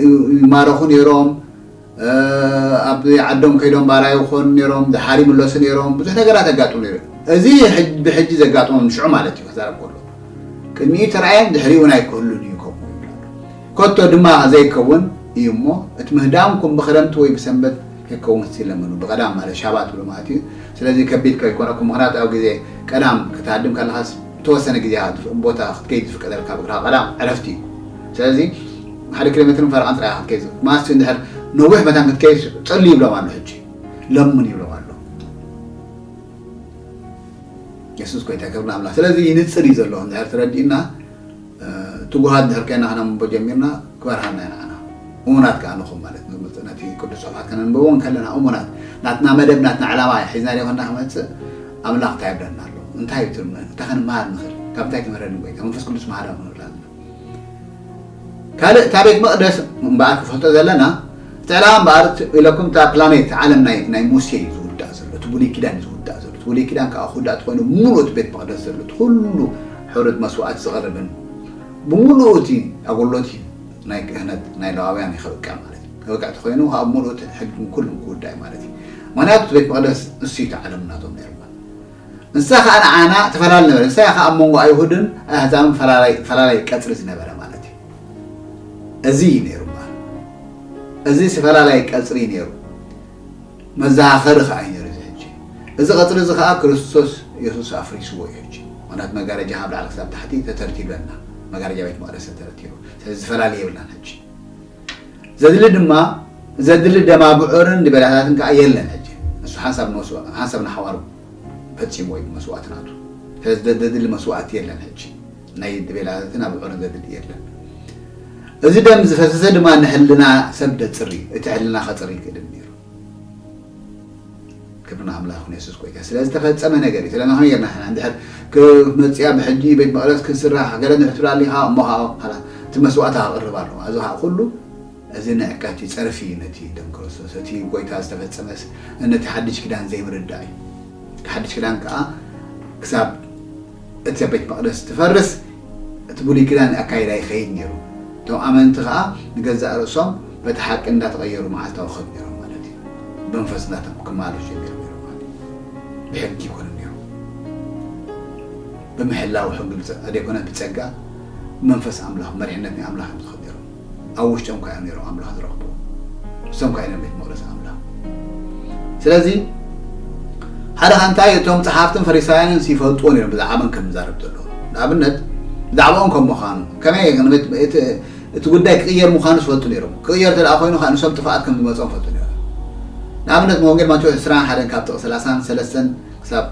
ይማረኹ ነይሮም፣ ኣብ ዓዶም ከይዶም ባርያ ይኾኑ ነይሮም፣ ደሓር ይምለሱ ነይሮም፣ ብዙሕ ነገራት የጋጥም ነይሩ እዩ። እዚ ብሕጂ ዘጋጥሞም ንሽዑ ማለት እዩ ክዛረብ ከሎ ቅድሚኡ ተራእየን ድሕሪኡ እውን ኣይክህሉን እዩ ከምኡ ከቶ ድማ ዘይከውን እዩ እሞ እቲ ምህዳምኩም ብክረምቲ ወይ ብሰንበት ከይከውን ክትለምኑ ብቀዳም ማለት ሻባት ብሎ ማለት እዩ ስለዚ ከቢድ ከይኮነኩም ምክንያቱ ኣብ ግዜ ቀዳም ክትሃድም ከለካስ ዝተወሰነ ግዜ ኢኻ እትፍ ቦታ ክትከይድ ዝፍቀደልካ ብእግርኻ ቀዳ ዕረፍቲ እዩ ስለዚ ሓደ ኪሎሜትርን ፈረቓን ጥራይ ኢኻ ክትከይድ ዝፍ ማስት እንድሕር ነዊሕ መታን ክትከይድ ጸሉ ይብሎም ኣሎ ሕጂ ለሙን ይብሎም ኣሎ የሱስ ኮይታ ክብሪ ኣምላኽ ስለዚ ይንጽር እዩ ዘሎ እንድሕር ተረዲኡና ትጉሃት እንድሕር ኴንና ከነንብቦ ጀሚርና ክበርሃልና ኢና ኣና እሙናት ከኣ ንኹን ማለት ንብልጽ ነቲ ቅዱስ ጽሑፋት ከነንብቦ እንከለና እሙናት ናትና መደብ ናትና ዕላማ ሒዝና ዲኾና ክመጽእ ኣምላኽ እንታይ ይብለና ኣሎ እንታይ እዩ ትርምነ እንታይ ከንመሃር ንኽእል ካብ እንታይ ትምህረኒ ጎይታ መንፈስ ቅዱስ መሃራ ክንብል ኣለና ካልእ እታ ቤት መቕደስ እምበኣር ክፈልጦ ዘለና እቲ ዕላማ እምበኣር ኢለኩም እታ ፕላኔት ዓለም ናይ ናይ ሙሴ እዩ ዝውዳእ ዘሎ እቲ ብሉይ ኪዳን እዩ ዝውዳእ ዘሎ እቲ ብሉይ ኪዳን ከዓ ክውዳእ ተኮይኑ ምሉእ እቲ ቤት መቕደስ ዘሎ እቲ ኩሉ ሕሩድ መስዋእቲ ዝቐርብን ብምሉኡ እቲ ኣጎሎቲ ናይ ክህነት ናይ ለዋውያን ይኸብቅዕ ማለት እዩ። ከብቅዕ ተኾይኑ ከኣ ብምሉኡ እቲ ሕግን ኩሉን ክውዳእ እዩ ማለት እዩ። ምክንያቱ እቲ ቤት መቕደስ ንሱ እዩ እቲ ዓለም ናቶም ነይሩ እሞ። ንሳ ከኣ ንዓና ተፈላሊ ነበረ። ንሳ እያ ከኣ ኣብ መንጎ ኣይሁድን ኣህዛብን ፈላላይ ፈላላይ ቀጽሪ ዝነበረ ማለት እዩ። እዚ እዩ ነይሩ እምበኣር። እዚ ፈላላይ ቀጽሪ እዩ ነይሩ። መዘኻኸሪ ከኣ እዩ ነይሩ እዚ ሕጂ። እዚ ቀጽሪ እዚ ከኣ ክርስቶስ የሱስ ኣፍሪስዎ እዩ ሕጂ። ምኽንያቱ መጋረጃ ካብ ላዕሊ ክሳብ ታሕቲ ተተርቲሩ ኣና። መጋረጃ ቤት መቕደስ ተተረቲሩ። ስለዚ ዝፈላሊ የብልናን ሕጂ። ዘድሊ ድማ ዘድሊ ደም ኣቡዑርን ድቤላታትን ከኣ የለን ሕጂ። ንሱ ሓንሳብ ንመስዋ ሓንሳብ ንሓዋሩ ፈጺምዎ እዩ ብመስዋእቲ ናቱ። ስለዚ ዘድሊ መስዋእቲ የለን ሕጂ። ናይ ተቤላታትን ኣብዑርን ዘድሊ የለን። እዚ ደም ዝፈሰሰ ድማ ንሕልና ሰብ ደጽሪ እቲ ሕልና ከጽሪ ይክእልን ነይሩ። ክብሪ ንኣምላኽ ይኹን የሱስ ጎይታ ስለ ዝተፈጸመ ነገር እዩ። ስለዚ ከመይ ጌርና ሕና እንድሕር ክመጽያ ብሕጂ ቤት መቕደስ ክስራሕ ገለ እንድሕር ትብል ኣሊኻ እሞ ከዓ ኻላስ እቲ መስዋእታ ክቕርብ ኣለዎ። እዚ ከዓ ኩሉ እዚ ንዕቀት እዩ፣ ጸርፊ እዩ ነቲ ደም ክርስቶስ እቲ ጎይታ ዝተፈጸመስ ነቲ ሓድሽ ኪዳን ዘይምርዳእ እዩ። እቲ ሓድሽ ኪዳን ከዓ ክሳብ እቲ ቤት መቕደስ እንትፈርስ እቲ ብሉይ ኪዳን ኣካይዳ ይኸይድ ነይሩ። እቶም ኣመንቲ ኸኣ ንገዛእ ርእሶም በቲ ሓቂ እንዳተቐየሩ መዓልታዊ ክኸዱ ነይሮም ማለት እዩ። ብመንፈስ እንዳቶም ክማለሹ እዮም ነይሮም ማለት እዩ። ብሕጊ ኣይኮነን ነይሩ። ብምሕላው ሕጊ ኣይኮነን ብጸጋ ብመንፈስ ኣምላኽ ብመሪሕነት ናይ ኣምላኽ እዮም ዝኸዱ ነይሮም። ኣብ ውሽጦም ካዮም ነይሮም ኣምላኽ ዝረኽብዎ ንሶም ካዮ ነም ቤት መቅደስ ኣምላኽ ስለዚ ሓደ ካንታይ እቶም ጸሓፍትን ፈሪሳውያንን ሲፈልጥዎ ነይሮም ብዛዕባ መን ከም ዝዛረብ ዘለዎ ንኣብነት ብዛዕባኦም ከም ምዃኑ ከመይ እቲ ጉዳይ ክቕየር ምዃኑ ዝፈልጡ ነይሮም ክቕየር ተደኣ ኮይኑ ከዓ ንሶም ጥፋኣት ከም ዝመፅኦም ፈልጡ ነይሮም ንኣብነት መወንጌል ማቴዎስ 21 ካብ ጥቕ 33 ክሳብ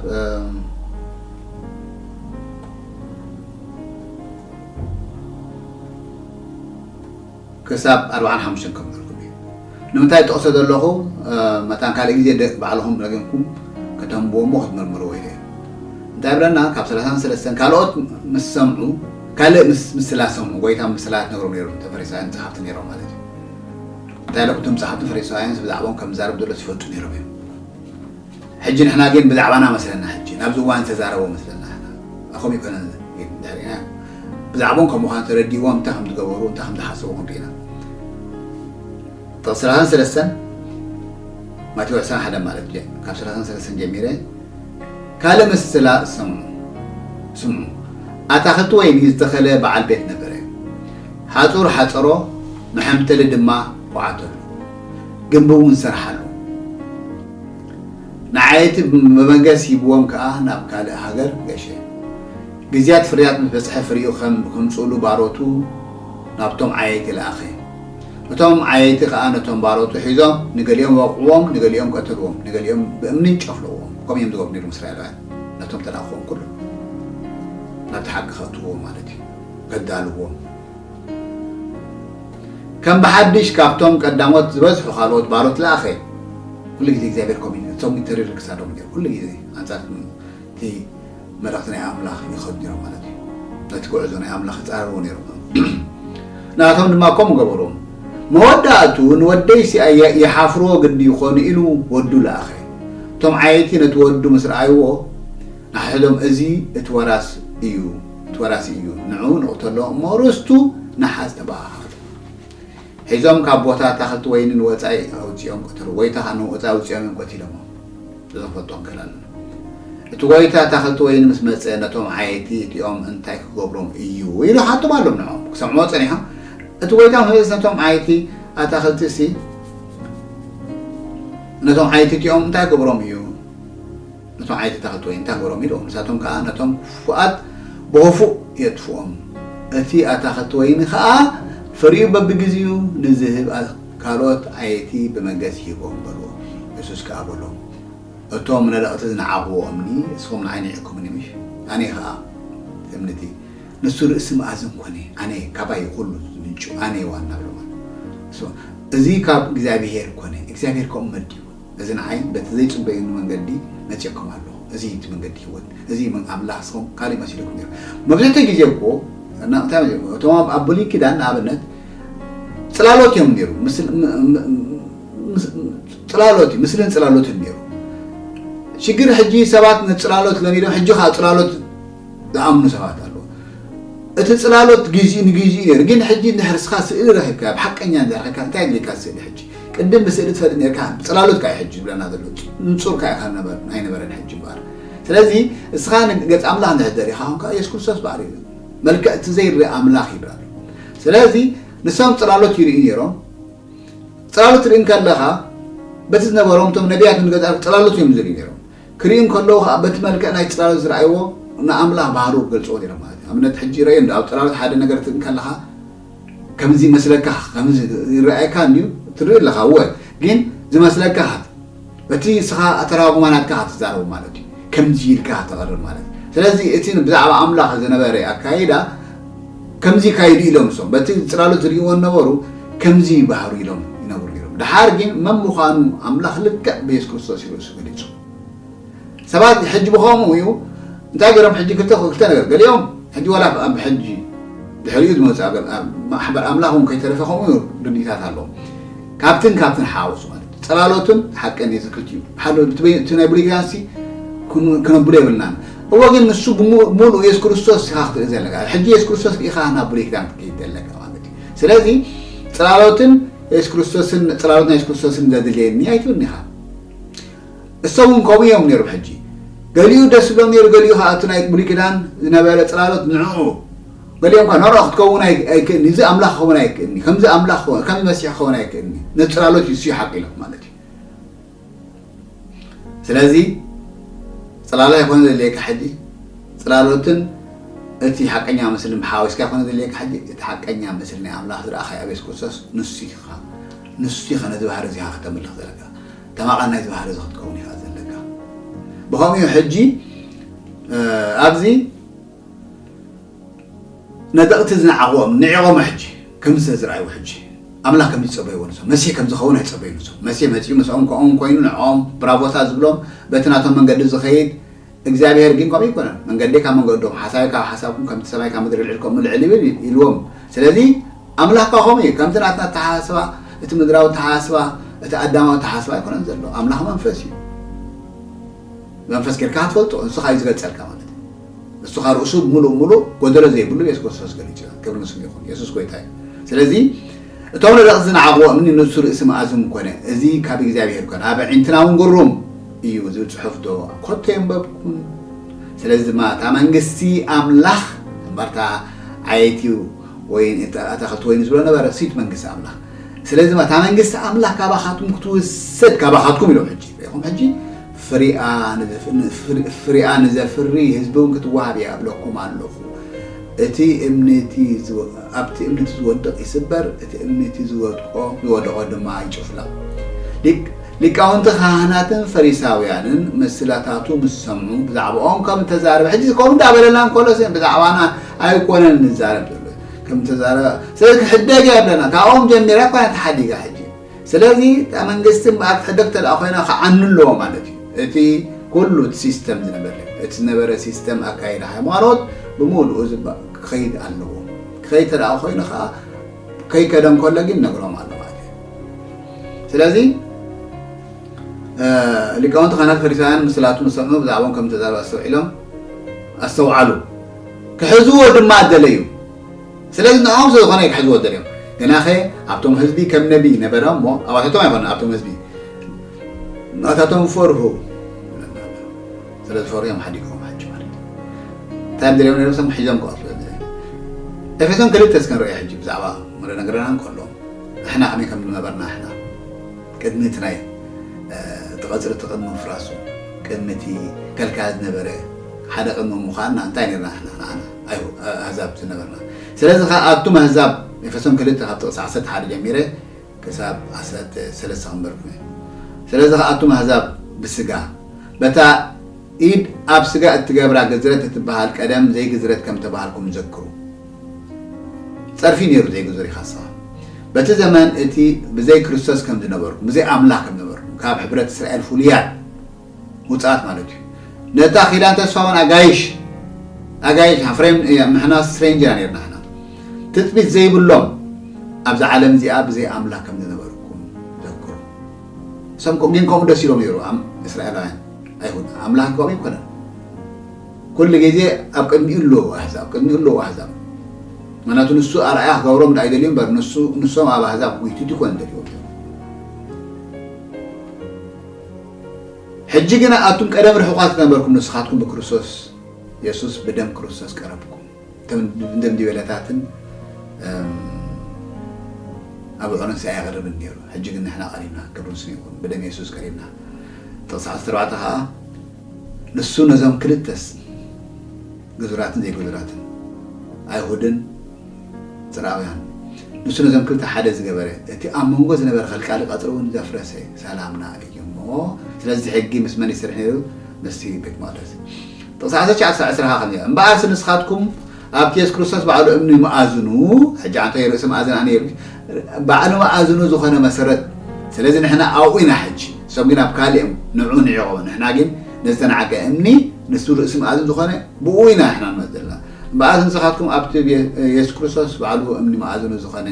ክሳብ ኣርብዓን ሓሙሽተን ከምህርኩም እየ ንምንታይ ጠቕሶ ዘለኹ መታን ካልእ ግዜ ባዕልኹም ረጊምኩም ከተንብዎ እሞ ክትምርምርዎ ይኽእል እንታይ ብለና ካብ ሰላሳን ሰለስተን ካልኦት ምስ ሰምዑ ካልእ ምስ ምስላ ሰምዑ ጎይታ ምስላ ትነግሮም ነይሩ ተፈሪሳውያን ጸሓፍቲ ነይሮም ማለት እዩ እንታይ ለኩ እቶም ጸሓፍቲ ፈሪሳውያንስ ብዛዕባኦም ከም ዛረብ ዘሎ ዝፈልጡ ነይሮም እዮም ሕጂ ንሕና ጌን ብዛዕባና መስለና ሕጂ ናብዚ እዋን ዝተዛረቦ መስለና ሕና ናኮም ኣይኮነን ጌን እንድሕር ሪኢናዮ ብዛዕቦም ከም ምዃኑ ተረዲእዎም እንታይ ከም ዝገበሩ እንታይ ከም ዝሓሰቡ ከም ሪኢና ጥቕሲ ሰላሳን ሰለስተን ማቴዎ ዕስራን ሓደን ማለት ጀ ካብ ሰላሳን ሰለስተን ጀሚረ ካልእ ምስላ ስምዑ ስምዑ ኣታኽልቲ ወይኒ ዝተኸለ በዓል ቤት ነበረ ሓፁር ሓፀሮ መሐምተሊ ድማ ቆዓተሉ ግንቢ እውን ሰርሓሉ ንዓይ እቲ መበገሲ ሂብዎም ከኣ ናብ ካልእ ሃገር ገሸ። ግዝያት ፍርያት ምስ በጽሐ ፍሪኡ ከም ከምጽእሉ ባሮቱ ናብቶም ዓየይቲ ለኣኸ። እቶም ዓየይቲ ከኣ ነቶም ባሮቱ ሒዞም ንገሊኦም ወቕዕዎም ንገሊኦም ቀተልዎም ንገሊኦም ብእምንን ጨፍለቕዎም ከምኡ እዮም ዝገብሩ ነይሮም እስራኤላውያን ነቶም ተላእኽዎም ኩሎም ናብቲ ሓቂ ከእትውዎም ማለት እዩ ከዳልዎም ከም ብሓድሽ ካብቶም ቀዳሞት ዝበዝሑ ካልኦት ባሮት ለኣኸ። ኩሉ ግዜ እግዚኣብሄር ከምኡ እዩ እቶም ተሪር ክሳዶም ጌሩ ኩሉ ግዜ ኣንጻር እቲ መልእኽቲ ናይ ኣምላኽ ይኸዱ ኔሮም ማለት እዩ ነቲ ጉዕዞ ናይ ኣምላኽ ይጻረርዎ ኔሮም ንኣቶም ድማ ከምኡ ገበሮም መወዳእቱ ንወደይሲ ይሓፍርዎ ግዲ ይኾኑ ኢሉ ወዱ ለኣኸ እቶም ዓየይቲ ነቲ ወዱ ምስ ረኣይዎ ንሓይሎም እዚ እቲ ወራስ እዩ እቲ ወራሲ እዩ ንዑ ንቕተሎ እሞ ርስቱ ንሓዝ ተበሃሃሉ። ሒዞም ካብ ቦታ ኣታኽልቲ ወይኒ ንወጻኢ ኣውጺኦም ቀተሉ። ጎይታ ከኣ ንወጻኢ ኣውጺኦም እዮም ቀቲሎሞም። እዞም ክፈልጦም ክእል ኣለና። እቲ ጎይታ ኣታኽልቲ ወይኒ ምስ መጸ ነቶም ዓየይቲ እቲኦም እንታይ ክገብሮም እዩ ኢሉ ሓቶም ኣሎም ንዖም ክሰምዕዎ ጸኒሖም እቲ ጎይታ ምስ መጸስ ነቶም ዓየይቲ ኣታኽልቲሲ ነቶም ዓየይቲ እቲኦም እንታይ ክገብሮም እዩ ነቶም ዓይትታኽ ጥወይ እንታይ ገሮም ኢሉ ንሳቶም ከኣ ነቶም ክፉኣት ብኸፉእ የጥፍኦም እቲ ኣታኽልቲ ወይኒ ከኣ ፍሪኡ በብግዜኡ ንዝህብ ካልኦት ዓየይቲ ብመገስ ይህቦም በልዎ የሱስ ከኣ በሎም እቶም ነደቕቲ ዝነዓቕዎ እምኒ እስኹም ንዓይ ኒዒኩምኒ ምሽ ኣነ ከኣ እምኒ እቲ ንሱ ርእሲ መኣዝን ኮነ ኣነ ካባይ እዩ ኩሉ ዝምንጩ ኣነ ዋና በልዎ እዚ ካብ እግዚኣብሄር ኮነ እግዚኣብሄር ከምኡ መዲቡ እዚ ንዓይ በቲ ዘይጽበየኒ መንገዲ መጺኦኩም ኣለኹ። እዚ እዩ እቲ መንገዲ ህይወት፣ እዚ እዩ ኣምላኽ፣ ንስኹም ካልእ መሲሉኩም ነይሩ። መብዛሕትኡ ግዜ እኮ እቶም ኣብ ብሉይ ኪዳን ንኣብነት ጽላሎት እዮም ነይሩ፣ ጽላሎት እዩ፣ ምስልን ጽላሎትን ነይሩ። ሽግር ሕጂ ሰባት ንጽላሎት ለሚዶም ሕጂ ከኣ ጽላሎት ዝኣምኑ ሰባት ኣለዉ። እቲ ጽላሎት ጊዚኡ ንጊዚኡ ነይሩ ግን ሕጂ እንድሕር እስኻ ስእሊ ረኺብካ ብሓቀኛ እንድሕር ረኺብካ እንታይ የድልየካ ስእሊ ሕጂ ቅድም ብስእሊ ትፈልጥ ነርካ ጽላሎት ካዩ ሕጂ ዝብለና ዘሎ ንጹር ካዩ ካብ ኣይነበረን ሕጂ እምበኣር ስለዚ እስኻ ገጽ ኣምላኽ እንድሕር ደሊኻ ኮንካ ኢየሱስ ክርስቶስ ባዕሉ እዩ መልክዕ እቲ ዘይርእ ኣምላኽ ይብላል ስለዚ ንሶም ጽላሎት ይርእዩ ነይሮም ጽላሎት ርኢ ከለኻ በቲ ዝነበሮም እቶም ነቢያት ንገዛእ ጽላሎት እዮም ዝርእዩ ነይሮም ክሪኡ እንከለዉ ከኣ በቲ መልክዕ ናይ ጽላሎት ዝረኣይዎ ንኣምላኽ ባህርኡ ክገልጽዎ ነይሮም ማለት እዩ። ኣብነት ሕጂ ይረኣዮ እንዶ ኣብ ጽላሎት ሓደ ነገር ትርኢ እንከለኻ ከምዚ ይመስለካ ከምዚ ይረኣየካ እንድዩ ትርኢ ኣለኻ እወ ግን ዝመስለካ ካት በቲ ንስኻ ኣተራጉማ ናትካ ክትዛረቡ ማለት እዩ ከምዚ ኢልካ ተቕርብ ማለት እዩ። ስለዚ እቲ ብዛዕባ ኣምላኽ ዝነበረ ኣካይዳ ከምዚ ይካይዱ ኢሎም እሶም በቲ ጽላሎት ዝርእይዎ ዝነበሩ ከምዚ ይባህሩ ኢሎም ይነብሩ ነይሮም። ደሓር ግን መን ምዃኑ ኣምላኽ ልክዕ ብየሱስ ክርስቶስ እዩ ርእሱ ገሊጹ። ሰባት ሕጂ ብኸምኡ እዩ እንታይ ገይሮም ሕጂ ክልተ ክልተ ነገር ገሊኦም ሕጂ ዋላ ኣብ ሕጂ ድሕሪኡ ዝመጽእ ኣብ ማሕበር ኣምላኽ እውን ከይተረፈ ከምኡ ርድኢታት ኣለዎም ካብትን ካብትን ሓወሱ ማለት እዩ ጽላሎትን ሓቅን እዩ ዝክልቲኡ ሓደ እቲ ናይ ብሉይ ኪዳንሲ ክነብሎ የብልናን እወ ግን ንሱ ብሙሉኡ የሱስ ክርስቶስ ኢኻ ክትርኢ ዘለካ ሕጂ የሱስ ክርስቶስ ርኢኻ ናብ ብሉይ ኪዳን ክትከይድ ዘለካ ማለት እዩ ስለዚ ጽላሎትን የሱስ ክርስቶስን ጽላሎት ናይ የሱስ ክርስቶስን ዘድልየኒ ኣይትብልን ኢኻ እሶም እውን ከምኡ እዮም ነይሮም ሕጂ ገሊኡ ደስ ዝብሎም ነይሩ ገሊኡ ከዓ እቲ ናይ ብሉይ ኪዳን ዝነበረ ፅላሎት ንዕኡ ገሊኦም ኳ ነሮ ክትከውን ኣይክእልኒ እዚ ኣምላኽ ክኸውን ኣይክእልኒ ከምዚ ኣምላኽ ከምዚ መሲሕ ክኸውን ኣይክእልኒ ነቲ ፅላሎት ይስዩ ሓቂሎም ማለት እዩ ስለዚ ፅላላ ይኮነ ዘድልየካ ሕጂ ፅላሎትን እቲ ሓቀኛ ምስልን ሓዊስካ ይኮነ ዘድልየካ ሕጂ እቲ ሓቀኛ ምስሊ ናይ ኣምላኽ ዝረኣኻዮ ኣብ የሱስ ክርስቶስ ንሱ ኢኻ ንሱ ኢኻ ነዚ ባህሪ እዚኻ ከተምልኽ ዘለካ ተማቓን ናይዚ ባህሪ እዚ ክትከውን ኢኻ ዘለካ ብኸምኡ ሕጂ ኣብዚ ነጠቕቲ ዝነዓቑዎም ንዒቖም ኣሕጂ ከምዚ ስለ ዝረኣይዎ ሕጂ ኣምላኽ ከምዚ ዝጸበይዎ ንሶም መሲህ ከምዚ ክኸውን ኣይጸበዩን ንሶም መሲህ መጺኡ ምስኦም ከምኦም ኮይኑ ንዕኦም ብራቮታት ዝብሎም በቲ ናቶም መንገዲ ዝኸይድ እግዚኣብሄር ግን ከምኡ ኣይኮነን መንገደይ ካብ መንገዶም ሓሳበይ ካብ ሓሳብኩም ከምቲ ሰማይ ካብ ምድሪ ልዕል ከምኡ ልዕል ይብል ኢልዎም ስለዚ ኣምላኽካ ከምኡ እዩ ከምቲ ናትና ኣተሓሳስባ እቲ ምድራዊ ኣተሓሳስባ እቲ ኣዳማዊ ኣተሓሳስባ ኣይኮነን ዘሎ ኣምላኽ መንፈስ እዩ መንፈስ ጌርካ ትፈልጦ ንሱ ካብ እዩ ዝገልጸልካ ማለት ንሱ ካኣ ርእሱ ምሉእ ምሉእ ጎደሎ ዘይብሉ የሱስ ክርስቶስ ገሊጹ ኢና ክብሪ ንስሙ ይኹን የሱስ ጎይታ እዩ ስለዚ እቶም ነደቕቲ ዝነዓቕዎ እምኒ ንሱ ርእሲ መኣዝም ኮነ እዚ ካብ እግዚኣብሄር ኮነ ኣብ ኣዒንትና እውን ግሩም እዩ ዝብል ጽሑፍ ዶ ኮቶ የንበብኩን ስለዚ ድማ እታ መንግስቲ ኣምላኽ እምበርታ ዓየይቲ ወይን ኣታኸልቲ ወይን ዝብሎ ነበረ ሲት መንግስቲ ኣምላኽ ስለዚ እታ መንግስቲ ኣምላኽ ካባኻትኩም ክትውሰድ ካባኻትኩም ኢሎም ሕጂ ኹም ሕጂ ፍሪኣ ንዘፍሪ ህዝቢ እውን ክትወሃብ እያ እብለኩም ኣለኹ። እቲ እምኒ እቲ ኣብቲ እምኒ እቲ ዝወድቕ ይስበር፣ እቲ እምኒ እቲ ዝወድቆ ዝወደቖ ድማ ይጭፍለቕ። ሊቃውንቲ ካህናትን ፈሪሳውያንን ምስላታቱ ምስ ሰምዑ ብዛዕባኦም ከም እተዛረበ ሕጂ ከምኡ እንዳበለና እንከሎ ብዛዕባና ኣይኮነን ንዛረብ ዘሎ ከም እተዛረበ ስለዚ ክሕደግ እያ ብለና ካብኦም ጀሚራ እኳ ተሓዲጋ ሕጂ ስለዚ እታ መንግስቲ እምበኣር ትሕደግ ተደኣ ኮይና ክዓኑ ኣለዎ ማለት እዩ እቲ ኩሉ እቲ ሲስተም ዝነበረ እቲ ዝነበረ ሲስተም ኣካይዳ ሃይማኖት ብምሉኡ ክኸይድ ኣለዎ ክኸይድ ተደኣ ኮይኑ ከዓ ከይከደ እንከሎ ግን ነግሮም ኣሎ ማለት እዩ ስለዚ ሊቃውንቲ ካህናት ፈሪሳውያን ምስላቱ ምስ ሰምዑ ብዛዕባኦም ከም ተዛረበ ኣስተውዒሎም ኣስተውዓሉ ክሕዝዎ ድማ ደለዩ ስለዚ ንዖም ዘይኾነ እዩ ክሕዝዎ ደልዮም ግናኸ ኣብቶም ህዝቢ ከም ነቢ ነበረ እሞ ኣባታቶም ኣይኮነን ኣብቶም ህዝቢ ናታቶም ፈርሁ ስለ ዝፈርሁ እዮም ሓዲጎም ሓጂ ማለት እንታይ እዮም ደልዮም ነሮም ሰብ ሒዞም ክቐትሉ ኤፌሶን ክልተ እስከ ንርእዮ ሕጂ ብዛዕባ ወደ ነገረና እንከሎ ንሕና ከመይ ከም ዝነበርና ሕና ቅድሚ እቲ ናይ እቲ ቐፅሪ እቲ ቅድሚ ምፍራሱ ቅድሚ እቲ ከልካያ ዝነበረ ሓደ ቅድሚ ምዃንና እንታይ ነርና ሕና ንዓና ኣህዛብ ዝነበርና ስለዚ ከኣ ኣቱም ኣህዛብ ኤፌሶን ክልተ ካብ ጥቕሲ ዓሰርተ ሓደ ጀሚረ ክሳብ ዓሰርተ ሰለስተ ከንበርኩም እየ ስለዚ ከኣ ኣቱም ኣህዛብ ብስጋ በታ ኢድ ኣብ ስጋ እትገብራ ግዝረት እትበሃል ቀደም ዘይግዝረት ከም ተባሃልኩም ዘክሩ ጸርፊ ነይሩ ዘይግዙር ኢኻ ስኻ በቲ ዘመን እቲ ብዘይ ክርስቶስ ከም ዝነበርኩም ብዘይ ኣምላኽ ከም ነበርኩም ካብ ሕብረት እስራኤል ፍሉያት ውጽኣት ማለት እዩ ነታ ኪዳን ተስፋውን ኣጋይሽ ኣጋይሽ ኣፍሬም ምሕና ስትሬንጅ ኢና ነርና ሕና ትጽቢት ዘይብሎም ኣብዚ ዓለም እዚኣ ብዘይ ኣምላክ ከም ዝነበርኩም ዘክሩ ሰምኩም ግን ከምኡ ደስ ኢሎም ነይሩ እስራኤላውያን ኣይሁድ ኣምላክ ከምኡ ይኮነን ኩሉ ግዜ ኣብ ቅድሚኡ ኣለዎ ኣሕዛብ ቅድሚኡ ኣለዎ ኣሕዛብ ምክንያቱ ንሱ ኣርኣያ ክገብሮም ዳኣ ይደልዩ እምበር ንሶም ኣብ ኣሕዛብ ጉይትት ይኮን ደልዎ ሕጂ ግና ኣቱም ቀደም ርሑቓት ነበርኩም ንስኻትኩም ብክርስቶስ የሱስ ብደም ክርስቶስ ቀረብኩም እቶም ድንድቤለታትን ኣብዑርን ሰ ኣይቐርብን ነይሩ ሕጂ ግን ንሕና ቀሪብና ክብሪ ምስሉ ይኹን ብደም የሱስ ቀሪብና ጥቕሲ 14 ከዓ ንሱ ነዞም ክልተስ ግዙራትን ዘይግዙራትን ኣይሁድን ጽርኣውያን ንሱ ነዞም ክልተ ሓደ ዝገበረ እቲ ኣብ መንጎ ዝነበረ ከልቃሊ ቀጽሪ እውን ዘፍረሰ ሰላምና እዩ እሞ ስለዚ እቲ ሕጊ ምስ መን ይሰርሕ ነይሩ ምስቲ ቤት መቅደስ ጥቅሲ ዓሰርተ ትሽዓተ ክሳብ ዕስራ ከኣ ከምዚ እምበኣርሲ ንስኻትኩም ኣብቲ የሱስ ክርስቶስ ባዕሉ እምኒ መኣዝኑ ሕጂ ኣንታይ ርእሲ መኣዝን ኣነ ይብል ባዕሉ መኣዝኑ ዝኾነ መሰረት ስለዚ ንሕና ኣብኡ ኢና ሕጂ እሶም ግን ኣብ ካልእ እዮም ንዑ ንዒቆም ንሕና ግን ነዝተናዕቀ እምኒ ንሱ ርእሲ መኣዝን ዝኾነ ብኡ ኢና ንሕና ንመጽእ ዘለና እምበኣር ንስኻትኩም ኣብቲ ብየሱስ ክርስቶስ ባዕሉ እምኒ መኣዝኑ ዝኸነ፣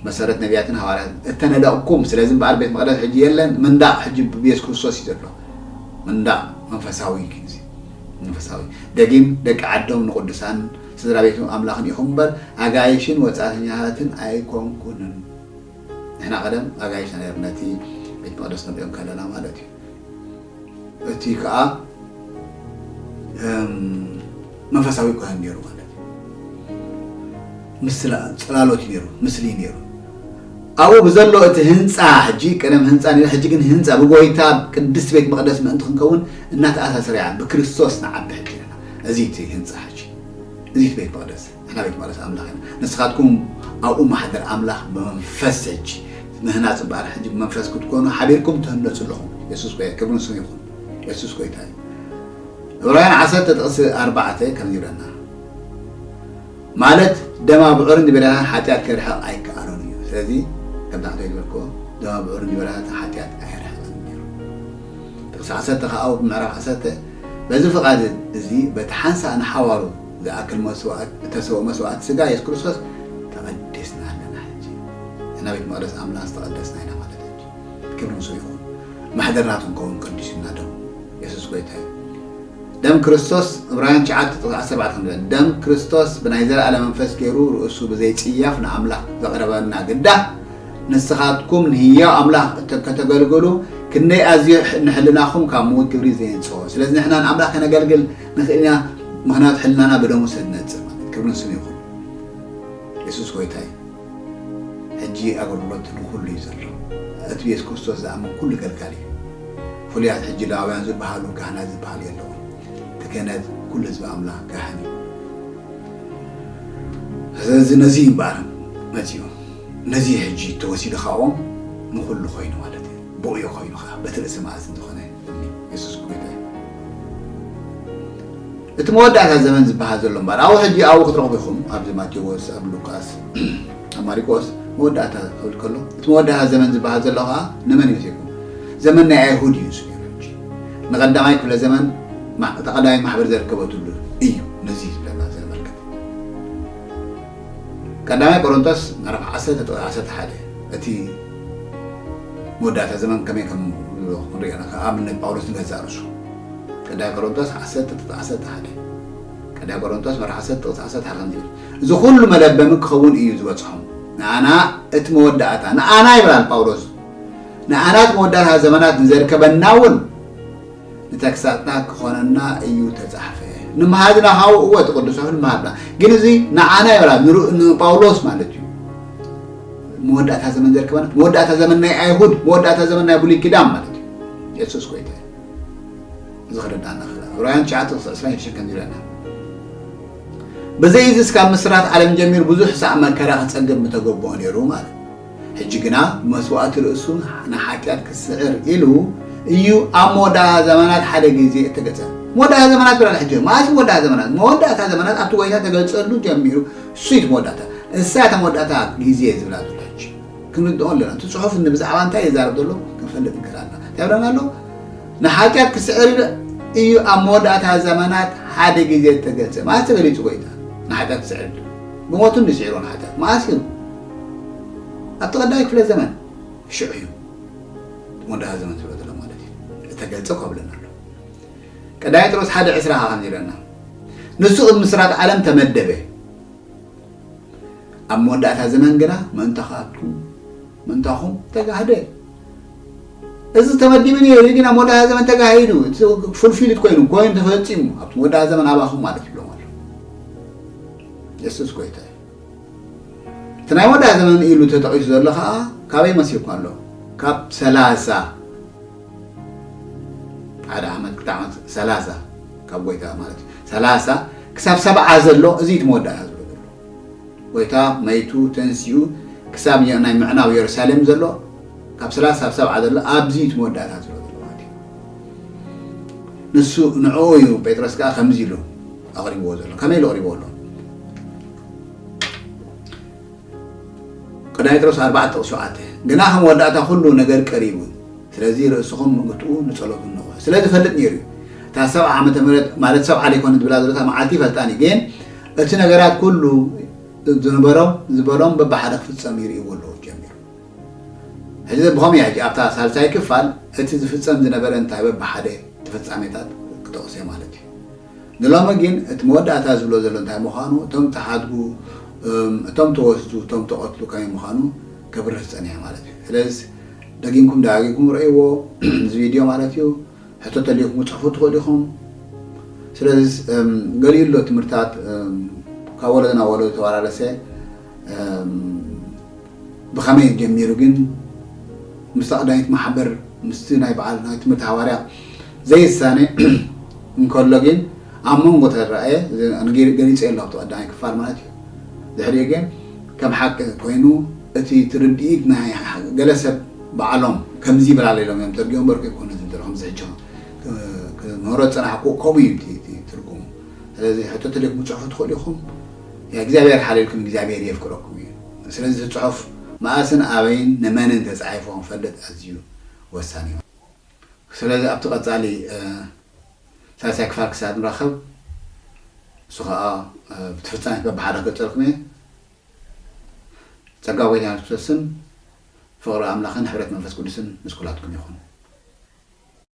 መሰረት ነብያትን ሃዋርያትን፣ እተነደቕኩም፣ ስለዚ እምበኣር ቤት መቕደስ ሕጂ የለን፣ ምንዳቕ ሕጂ ብየሱስ ክርስቶስ እዩ ዘሎ፣ ምንዳቕ መንፈሳዊ ኪንሲ፣ መንፈሳዊ፣ ደጊም ደቂ ዓዶም ንቕዱሳንን ስድራ ቤቱ ኣምላኽን ኢኹም እምበር ኣጋይሽን ወጻእተኛታትን ኣይኮንኩንን። ንሕና ቀደም ኣጋይሽና ነርና ነቲ ቤት መቕደስ ክንርእዮ እንከለና ማለት እዩ። እቲ ከኣ መንፈሳዊ ካህን ነይሩ ማለት ምስላ ጽላሎት ነይሩ ምስሊ ነይሩ ኣብኡ ብዘሎ እቲ ህንፃ ሕጂ ቀደም ህንፃ ነይሩ ሕጂ ግን ህንፃ ብጎይታ ቅድስት ቤት መቅደስ ምእንቲ ክንከውን እናተኣሳሰረ እያ ብክርስቶስ ንዓቢ ሕጂ ኣለና እዚ እቲ ህንፃ ሕጂ እዚ ቤት መቅደስ ንሕና ቤት መቕደስ ኣምላኽ ኢና። ንስኻትኩም ኣብኡ ማሕደር ኣምላኽ ብመንፈስ ሕጂ ምህናጽ እምበኣር ሕጂ ብመንፈስ ክትኮኑ ሓቢርኩም ትህነጹ ኣለኹም። የሱስ ጎያ ክብሪ ንስሙ ይኹን። የሱስ ጎይታ እዩ። ዕብራውያን ዓሰርተ ጥቕሲ ኣርባዕተ ከምዚ ይብለና ማለት ደም ኣብዑርን ዲበራታትን ሓጢኣት ከርሕቕ ኣይከኣሎን እዩ። ስለዚ ከምቲ ሓንታይ ዝበልክዎ ደም ኣብዑርን ዲበራታትን ሓጢኣት ኣየርሕቕን ነይሩ። ጥቕሲ ዓሰርተ ከኣ ኣብ ምዕራፍ ዓሰርተ በዚ ፍቓድ እዚ በቲ ሓንሳእ ንሓዋሩ ዝኣክል መስዋእት እተሰወ መስዋእት ስጋ የሱስ ክርስቶስ ተቀዲስና ኣለና ሕጂ እና ቤት መቅደስ ኣምላኽ ዝተቀደስና ኢና ማለት ሕጂ ክብሪ ምስኡ ይኹን ማሕደር ናቱ ክንከውን ቀዲሱና ደሙ የሱስ ጎይታ እዩ ደም ክርስቶስ ዕብራውያን ትሽዓተ ጥቕሲ ዓሰርተ ኣርባዕተ ከም ዝበለ ደም ክርስቶስ ብናይ ዘለኣለም መንፈስ ገይሩ ርእሱ ብዘይ ጽያፍ ንኣምላኽ ዘቕረበና ግዳ ንስኻትኩም ንህያው ኣምላኽ እተ- ከተገልግሉ ክንደይ ኣዝዩ ሕ- ንሕልናኹም ካብ ምዉት ግብሪ ዘየንጽሆ ስለዚ ንሕና ንኣምላኽ ከነገልግል ንክእል ኢና ምክንያቱ ሕልናና ብደሙ ስለ ዝነጽር ማለት ክብሪ ንስሙ ይኩን የሱስ ጎይታ እዩ ሕጂ ኣገልግሎት ንኩሉ እዩ ዘሎ እቲ ብየሱስ ክርስቶስ ዝኣምን ኩሉ ገልጋሊ እዩ ፍሉያት ሕጂ ላውያን ዝበሃሉ ካህናት ዝበሃል የለውን እቲ ክህነት ኩሉ ህዝቢ ኣምላኽ ካህን እዩ ስለዚ ነዚ እዩ እምበኣር መጺኡ ነዚ ሕጂ ተወሲዱ ካብኦም ንኩሉ ኮይኑ ማለት እዩ ብኡ እዩ ኮይኑ ከዓ በቲ ርእሲ መኣዝን ዝኾነ የሱስ ጎይታ እዩ። እቲ መወዳእታ ዘመን ዝበሃል ዘሎ እምበኣር ኣብኡ ሕጂ ኣብኡ ክትረኽቡ ኢኹም ኣብዚ ማቴዎስ ኣብ ሉቃስ ኣብ ማሪቆስ መወዳእታ ክብል ከሎ እቲ መወዳእታ ዘመን ዝበሃል ዘሎ ከኣ ንመን እዩ ዜኩም ዘመን ናይ ኣይሁድ እዩ ንሱ ነይሩ ሕጂ ንቐዳማይ ክፍለ ዘመን እታ ቀዳማይ ማሕበር ዘርከበትሉ እዩ ነዚ እዩ ዝብለና ዘመልክት ቀዳማይ ቆሮንቶስ ምዕራፍ 11 እቲ መወዳእታ ዘመን ከመይ ከም ክንሪኦ ኢና ካብ ኣብነት ጳውሎስ ንገዛእ ርእሱ ቀዳይ ቆሮንቶስ ዓሰርተ ጥቅሲ ዓሰርተ ሓደ ቀዳይ ቆሮንቶስ ምዕራፍ ዓሰርተ ጥቅሲ ዓሰርተ ሓደ ከምዚ ይብል እዚ ኩሉ መለበሚ ክኸውን እዩ ዝበጽሖም ንኣና እቲ መወዳእታ ንኣና ይብላል ጳውሎስ ንኣና እቲ መወዳእታ ዘመናት ንዘርከበና እውን ንተግሳጽና ክኾነና እዩ ተጻሕፈ ንምሃዝና ሃው እወ እቲ ቅዱስ ጽሑፍ ንምሃብና ግን እዚ ንዓና ይበላ ንጳውሎስ ማለት እዩ መወዳእታ ዘመን ዘርከበና መወዳእታ ዘመን ናይ ኣይሁድ መወዳእታ ዘመን ናይ ብሉይ ኪዳን ማለት እዩ የሱስ ጎይታ እዚ ክርዳእና ክላ ዕብራውያን ትሽዓተ ክሳዕ ዕስራን ሽዱሽተን ከምዚ ይብለና ብዘይዚ እስካብ ምስራት ዓለም ጀሚሩ ብዙሕ ሳዕ መከራ ክጸግብ ምተገብኦ ነይሩ ማለት ሕጂ ግና መስዋእቲ ርእሱ ንሓጢኣት ክስዕር ኢሉ እዩ ኣብ መወዳእታ ዘመናት ሓደ ግዜ እተገልጸ። መወዳእታ ዘመናት ብለና ሕጂ። መኣስ እዩ መወዳእታ ዘመናት? መወዳእታ ዘመናት ኣብቲ ጐይታ እተገልጸሉ ጀሚሩ እሱ እዩ እቲ መወዳእታ። እሳ እያ እታ መወዳእታ ግዜ ዝብላ ዘሎ ሕጂ። ክንርድኦ ኣሎና። እቲ ጽሑፍ ን ብዛዕባ እንታይ ይዛረብ ዘሎ ክንፈልጥ ንክእል ኣሎና። እንታይ ይብለና ኣሎ? ንሓጢኣት ክስዕር ኢሉ እዩ ኣብ መወዳእታ ዘመናት ሓደ ግዜ እተገልጸ። መኣስ ተገሊጹ ጐይታ ንሓጢኣት ክስዕር ኢሉ? ብሞቱ እንድዩ ስዒርዎ ንሓጢኣት። መኣስ እዩ? ኣብቲ ቀዳማይ ክፍለ ዘመን፣ ሽዑ እዩ እቲ መወዳእታ ዘመን ዝብሎ ዘሎ ማለት እዩ፣ ዝተገልጸ ኮብለል ኣሎ። ቀዳማይ ጴጥሮስ ሓደ ዕስራ ከኣ ከምዚ ይብለና፣ ንሱ ቅድሚ ምስራት ዓለም ተመደበ፣ ኣብ መወዳእታ ዘመን ግና ምእንታኻትኩም ምእንታኹም ተጋህደ። እዚ ተመዲቡ ነይሩ እዩ፣ ግን ኣብ መወዳእታ ዘመን ተጋሂዱ፣ ፉልፊልድ ኮይኑ ኮይኑ ተፈጺሙ፣ ኣብቲ መወዳእታ ዘመን ኣባኹም ማለት ይብሎም ኣሎ። የሱስ ጎይታ እዩ። እቲ ናይ ወዳ ዘመን ኢሉ ተጠቒሱ ዘሎ ከኣ ካበይ መሲልካ ኣሎ ካብ ሰላሳ ሓደ ዓመት ክልተ ዓመት ሰላሳ ካብ ጎይታ ማለት እዩ ሰላሳ ክሳብ ሰብዓ ዘሎ እዚ እቲ መወዳእታ ዝብሎ ዘሎ ጎይታ መይቱ ተንሲኡ ክሳብ ናይ ምዕናው የሩሳሌም ዘሎ ካብ ሰላሳ ሳብ ሰብዓ ዘሎ ኣብዚ እቲ መወዳእታ ዝብሎ ዘሎ ማለት እዩ ንሱ ንዕኡ እዩ ጴጥሮስ ከዓ ከምዚ ኢሉ ኣቕሪብዎ ዘሎ ከመይ ኢሉ ኣቕሪብዎ ኣሎ ቅዳ ጴጥሮስ ኣርባዕተ ሸውዓተ ግና ከም ወዳእታ ኩሉ ነገር ቀሪቡ ስለዚ ርእስኹም ምግትኡ ንጸሎት እንኾ ስለ ዝፈልጥ ነይሩ እዩ እታ ሰብዓ ዓመተ ምህረት ማለት ሰብዓ ዘይኮነ ዝብላ ዘሎታ መዓልቲ ይፈልጣኒ ግን እቲ ነገራት ኩሉ ዝነበሮ ዝበሎም በብሓደ ክፍጸም ይርእይዎ ኣለዎ ጀሚሩ ሕዚ ብኸመይ ሕጂ ኣብታ ሳልሳይ ክፋል እቲ ዝፍጸም ዝነበረ እንታይ በብሓደ ተፈጻሜታት ክጠቕሰ ማለት እዩ ንሎሚ ግን እቲ መወዳእታ ዝብሎ ዘሎ እንታይ ምዃኑ እቶም ተሓድጉ እም እቶም ተወስዱ እቶም ተቐትሉ ከመይ ምዃኑ ከብርህ ዝጸንሔ ማለት እዩ ስለዝስ ደጊምኩም ደጋጊኩም ርእይዎ እዚ ቪድዮ ማለት እዩ ሕቶ ተልይኩም ክጽሕፉ ትኽእሉ ኢኹም ስለዝስ እም ገሊኡ ኣሎ ትምህርታት እም ካብ ወለዶ ናብ ወለዶ ተዋራረሰ እም ብኸመይ ጀሚሩ ግን ምስታ ቀዳሚት ማሕበር ምስቲ ናይ በዓል ናይ ትምህርቲ ሃዋርያ ዘይሳነ እንከሎ ግን ኣብ መንጎ ተራእየ ገሊጸዮ ኣሎ ኣብቲ ቀዳማይ ክፋል ማለት እዩ ድሕሪኡ ግን ከም ሓቂ ኮይኑ እቲ ትርድኢት ናይ ገለ ሰብ ባዕሎም ከምዚ ይብላለ ኢሎም እዮም ተርጊኦም በርኩ ይኮኑ እዚ ድሮ ከምዚ ሕጆ ክምህሮ ዝጸናሕኩ ከምኡ እዩ እቲ ትርጉሙ ስለዚ ሕቶ ተደግሙ ጽሑፉ ትኽእሉ ኢኹም እግዚኣብሔር ሓልየልኩም እግዚኣብሔር የፍቅረኩም እዩ ስለዚ እቲ ጽሑፍ መኣስን ኣበይን ንመንን ተጻሒፉ ክንፈልጥ ኣዝዩ ወሳኒ እዩ። ስለዚ ኣብቲ ቀጻሊ ሳልሳይ ክፋል ክሳብ ንራኸብ ንሱ ከኣ ብቲ ፍጻሜ በብሓደ ክገልጸልኩም እየ። ጸጋ ጎይታና የሱስ ክርስቶስን ፍቕሪ ኣምላኽን ሕብረት መንፈስ ቅዱስን ምስ ኩላትኩም ይኹን።